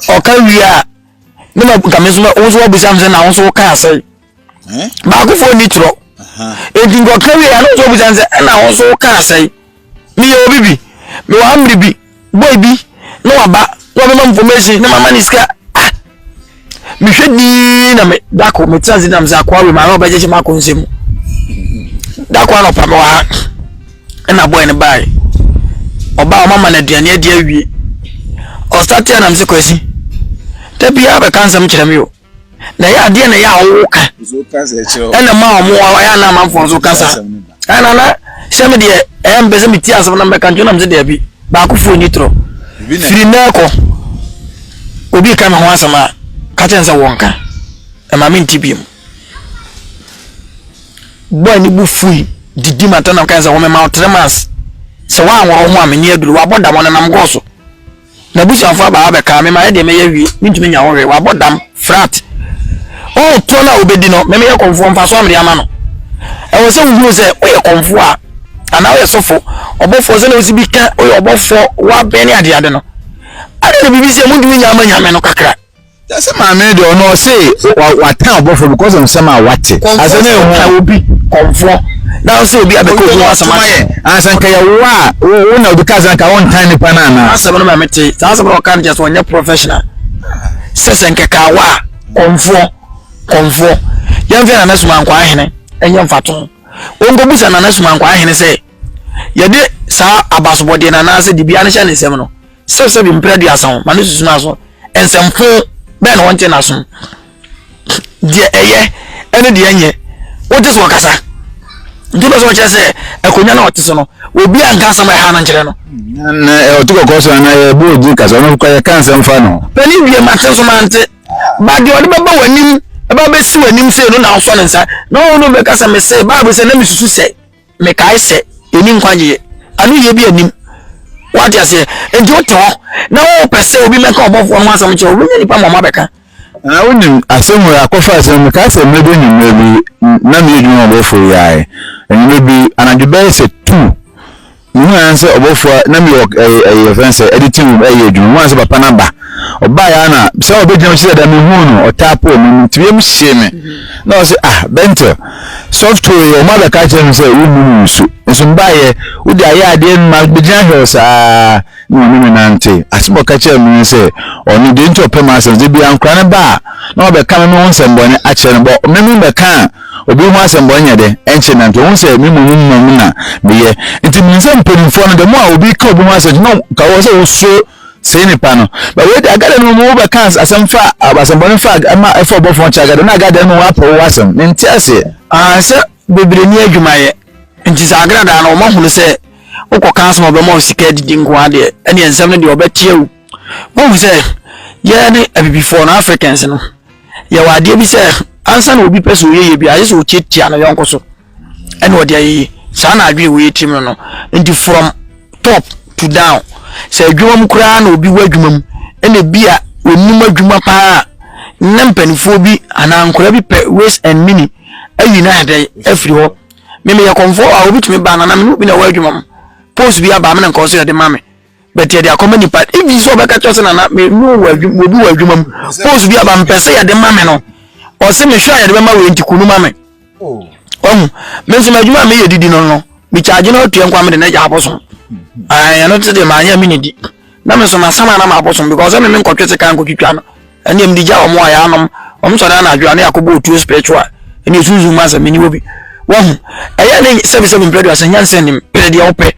ɔka wie a ne ma nka me nso wo nso wabisa m sɛ na wo nso woka asɛe baakofoɔ ni torɔ enti nkɔka wie ɛno nso ɔbusa sɛ ɛna ho so kaa sɛn meyɛ obi bi mewɔ ha mmere bi boy bi na waba na wabɛma information na mama ne sika ah mehwɛ dii na me dako metena ase nam sɛ akoa wei maame ɔbɛgye hyɛ mako nsɛm dako anɔpa mewɔ ha ɛna boy no bae ɔbaa ɔmama no aduane adi awie ɔsate anam sɛ kwasi da biara bɛka nsɛm kyerɛ me o na ɛyɛ adeɛ na ɛyɛ a wɔwo ka ɛna ma wɔn wɔn ɛyɛ na amanfoɔ nso kasa ɛna na sɛ mi deɛ ɛyɛ mpɛ sɛ mi ti asɛm na mbɛka nkyɛn na mi sɛ dɛbi baako fo ni torɔ firi mɛ kɔ obi ka mi ho asɛm a kakyɛ nsɛ wɔn ka ɛma mi nti bi mu bɔɔl ni bu fui didi ma tɛnam kan sɛ wɔn mɛ ma ɔtɛrɛ mas sɛ wɔn awɔrɔ ho a mi ni aduru wɔabɔ dam ɔnenam gɔɔ so. N'abusuafo aba hɔ abɛka, me maɛ deɛ mɛyɛ hwee mentumi nya hɔ hwee, wabɔ dam, frat. Ɔho toɔ no a wobɛdi no, me meyɛ kɔmfoɔ mfasoɔ a mede ama no. Ɛwɔ sɛ wohunu sɛ woyɛ kɔmfoɔ a, anaa woyɛ sɔfo, ɔbɔfoɔ sɛdeɛ wosi bi ka woyɛ ɔbɔfoɔ, wabɛn ne adeade no, adɛn na biribi si a montumi nya ama Nyame no kakra? That's a man made or no say what time buffer because of some what as an ehu obi konfo na so obi abeko bi was ma ye ansan ka ye wa wo na obi ka san ka on time nipa na na asem no ma mete sa asem no kan just on professional sese nke ka wa konfo konfo yɛn fɛ nana suma nkwa ahene ɛnyɛ mfato wɔn kɔ busa nana suma nkwa ahene sɛ yɛde saa abasobɔdeɛ na anaasɛ dibea no hyɛ ne nsɛm no Sɛbsɛbi mprɛ aduasa ho ma no susu n'aso nsɛmfo bɛn na wɔnte n'asom, deɛ ɛyɛ ne deɛ ɛnyɛ, wogye sɛ ɔkasa. Nti wopɛ sɛ wɔkyerɛ sɛ akonnwa no a ɔte so no, obi a nka nsɛm a ɛha no nkyerɛ no. Na ɔte kɔkɔɔ so anaa yɛbɔ ogye kasa, ɔno kɔ yɛka nsɛm fa no. Panin wie mate nso mante, ba deɛ ɔde bɛba w'anim ɛba bɛsi w'anim sei no na wosɔ ne nsa na ɔno bɛka sɛ mese Bible sɛ na mesusu sɛ. Mekae sɛ, Yenni nkwagye anoyie bi anim. Wate aseɛ? Enti wote hɔ na wopɛ sɛ obi mmɛka ɔbɔfoɔ no ho asɛm kyerɛ wo, wobɛnya nnipa mmɔma abɛka. Na wonim, asɛm wei akɔfa ase no, mekae sɛ mɛba anwummerɛ bi na meyɛ adwuma ma ɔbɔfoɔ yi ae. Anwummerɛ bi, anadwo bɛyɛ sɛ two, mehuu ara ne sɛ ɔbɔfoɔ a na mewɔ ɛyi, ɛyi, yɛfrɛ no sɛ editing room reyɛ adwuma, mehuu ara ne sɛ papa no aba. ɔbaeɛ a na sɛ ɔbɛgyina mu sɛ dɛ mehuu no ɔtaa pɔɔ mu no nti wiem hyee me mm-hmm. na ɔsɛ ah bɛntɛ software yɛ ɔma bɛka kyerɛ me sɛ wonnu no nsu nso mbaeɛ wode ayɛ adeɛ no ma bɛgyina hwɛ saa na ɔne me nante asɛm ɔka kyerɛ me ne sɛ ɔno deɛ nti ɔpɛ ma asɛm sɛ bia nkora no ba a na ɔbɛka me me ho nsɛmbɔne akyerɛ no bɔ me me bɛka a obi ho asɛmbɔ nyɛ dɛ ɛnkyɛ nante ohun sɛ mi mu mu mu na meyɛ nti mi nsɛ mpanimfoɔ no dɛ mo a obi ka obi ho asɛm no ka wɔ sɛ wosoro Sei ne pa no. But wei de agada no mu wobɛka asɛm fa asɛmbɔne fa ɛma ɛfa ɔbɔfo ho kyɛ agada na agada no mu wapɛ wo asɛm. Mente aseɛ. Ah, sɛ bebree ni adwuma yɛ. Nti sɛ agradaa no wɔn hunu sɛ wokɔ kan sɛ wɔbɛma wo sika adidi nko ara deɛ ɛne nsɛm no deɛ wɔbɛteɛ wo. Wohu sɛ yɛn ne abibifoɔ no Africans no yɛwɔ adeɛ bi sɛ ansa na obi pɛ sɛ ɔyɛ yɛ bi ayɛ sɛ ɔtiatia no yɔnko so. ɛna ɔde ayɛ yi saa na adwene wɔ yɛ tirim no no nti from top to down sɛ adwuma mu koraa na obi wɔ adwuma mu ɛna ebi a onim adwuma paa na mpanimfoɔ bi anaa nkwadaa bi pɛ ways and meaning ayi no ayɛ dɛ afiri hɔ mmemme yɛ kɔnfoɔ a obi tumi ba na na mene obi na ɛwɔ adwuma mu post bi aba amena nkɔɔ so yɛde ma me but yɛde akɔma nipa even sɛ ɔbɛka kyerɛ sɛ nana me no wɔ adwuma obi wɔ adwuma mu post bi aba mpɛ sɛ yɛde ma me no ɔsɛ mehwɛ a yɛde bɛma wei nti kunu ma me oh. ɔhu me nso m'adwuma a meyɛ didi no no mekyagye no atua nkwa mede no agya abosom ɛno mm-hmm. te deɛ maanyɛ me ne di na me nso masam a na mabosom because ɛme me nkɔtwe sika nkɔtwitwa no ɛneɛ mede gya wɔn a yɛanom wɔn sɔre anadwo a ne yɛakɔbɔ otuo spiritual ɛne ɛsunsun mu asɛ meniwɔ bi wahu ɛyɛ ne sɛbisɛbi mpɛ do asɛ nyansa nim pere deɛ wopɛ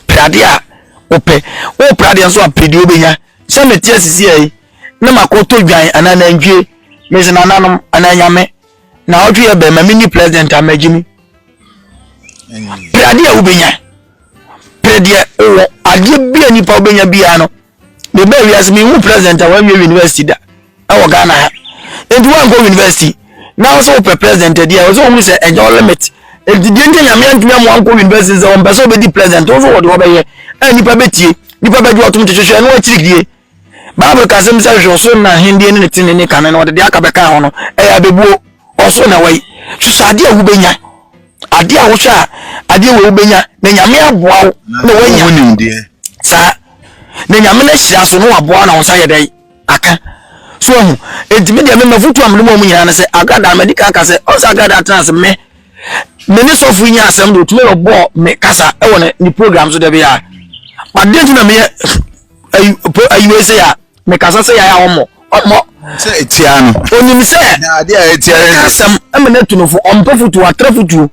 pere adeɛ a wopɛ wopere adeɛ nso a pere deɛ wobɛnya sɛ mete asisiɛ yi na makɔtɔ dwan anaa nantwie mese nananom anaa nyame na ɔtwe yɛ bɛn ma menni president a magye mu pere adeɛ a wobɛnya pere deɛ wowɔ adeɛ bi a nipa wobɛnya biara no Me bɛ wiase me hu president a wanwie university da ɛwɔ Ghana ha nti wankɔ university na ɔsɛ wopɛ president adi a ɔsɛ ohun sɛ ɛnyɛ ɔlimit nti deɛ nti nyame antumi amoa nkɔ university sɛ ɔmpɛ sɛ ɔbɛdi president nso wɔde ɔbɛyɛ a nipa bɛtie nipa bɛgye ɔtom te hwehwɛ ɛno akyirikidie bible ka sɛm sɛ hwehwɛ ɔsoro na ahendeɛ ne ne tene ne kane na ɔde deɛ aka bɛka ho no ɛyɛ abɛbuo ɔsoro na wayi hwehwɛ adeɛ a wobɛnya Adeɛ a wohwɛ a adeɛ wei wobɛnya na nyame aboa wo na woanya saa na nyame no ahyira so na waboa na wo nsa yɛ dɛn aka so ahu enti me deɛ me mafotu a mede ma mu nyinaa ne sɛ agrada madi kan ka sɛ ɔsɛ agrada atena ase me me ne sɔfo nya asɛm de otumi bɛbɔ me kasa ɛwɔ ne ne program so da bi a adeɛ nti na meyɛ ayi ayi wei sɛ a Me kasa sɛ yaya ɔmɔ ɔmɔ. Sɛ etia no. Onim sɛ. Na ade a etia no. Ɛka asɛm ɛmɛ na etu no fo ɔmpɛ futuo atra futuo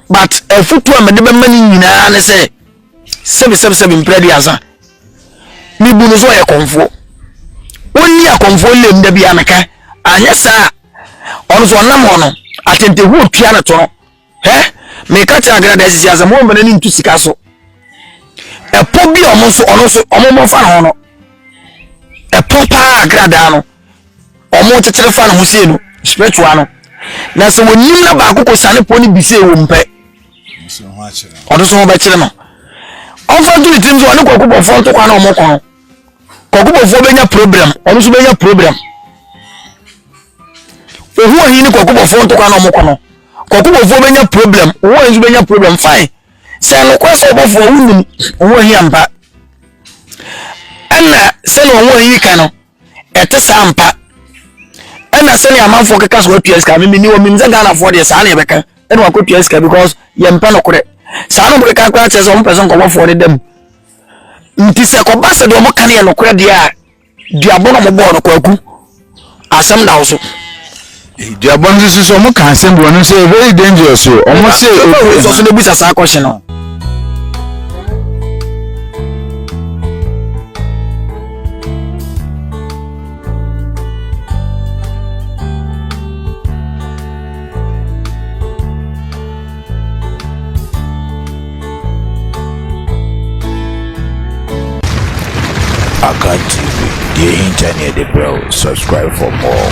but ɛfutuo a mɛde bɛma ne nyinaa ne sɛ sɛbi sɛbi sɛbi mpira di asa ne bu no so ɔyɛ kɔnfoɔ ɔnni akɔnfoɔ lem da bi ameka anyɛ saa ɔno so ɔnam hɔ no atentehuo tua ne to no. Hɛ, meka kyerɛ Agena dɛ sisi asɛm wɔmfa n'ani nto sika so. Ɛpɔ bi a ɔmo nso ɔno nso ɔmo mmɔ fa ne ho no. Ɛpɔ paa Agena daa no ɔmo kyekyere fa ne ho sei no spiritual no. Na sɛ wɔnim na baako kɔ sane pɔ ne bi sei wɔ mu pɛ. Ɔno nso ho bɛkyere no. Ɔmfa nto ne tirim sɛ ɔne kɔkɔ bɔfoɔ ntokwa na ɔmo kɔ no. kɔkɔbɔfoɔ bɛnya problem ɔno nso bɛnya problem ohu ɔhin ne kɔkɔbɔfoɔ ntokwa na ɔmokɔ no kɔkɔbɔfoɔ bɛnya problem ohu ɔhin nso bɛnya problem fine sɛ nokorɛ sɛ ɔbɔfoɔ wonim ohu ɔhin ampa ɛna sɛne ohu ɔhin ka no ɛte saa ampa ɛna sɛne amanfoɔ keka so atua sika memeni wɔ menim sɛ ghanafoɔ deɛ saa ne ɛbɛka ɛna wakɔtua sika because yɛmpɛ nokorɛ saa no mokeka koraa kyerɛ sɛ ɔmpɛ sɛ nkɔbɔfoɔ no da mu Nti sɛ ɛkɔba sɛ deɛ wɔka no yɛ nokorɛ deɛ a, duabɔ na wɔbɔɔ no kwaku. Asɛm da wo so. duabɔ no nso so wɔn ka asɛm bi wɔn sɛ very dangerous o wɔn sɛ obi nso so n'ebusa saa question no. Akan TV, deɛ ɛhinta ne yɛde brɛ wo. Subscribe for more.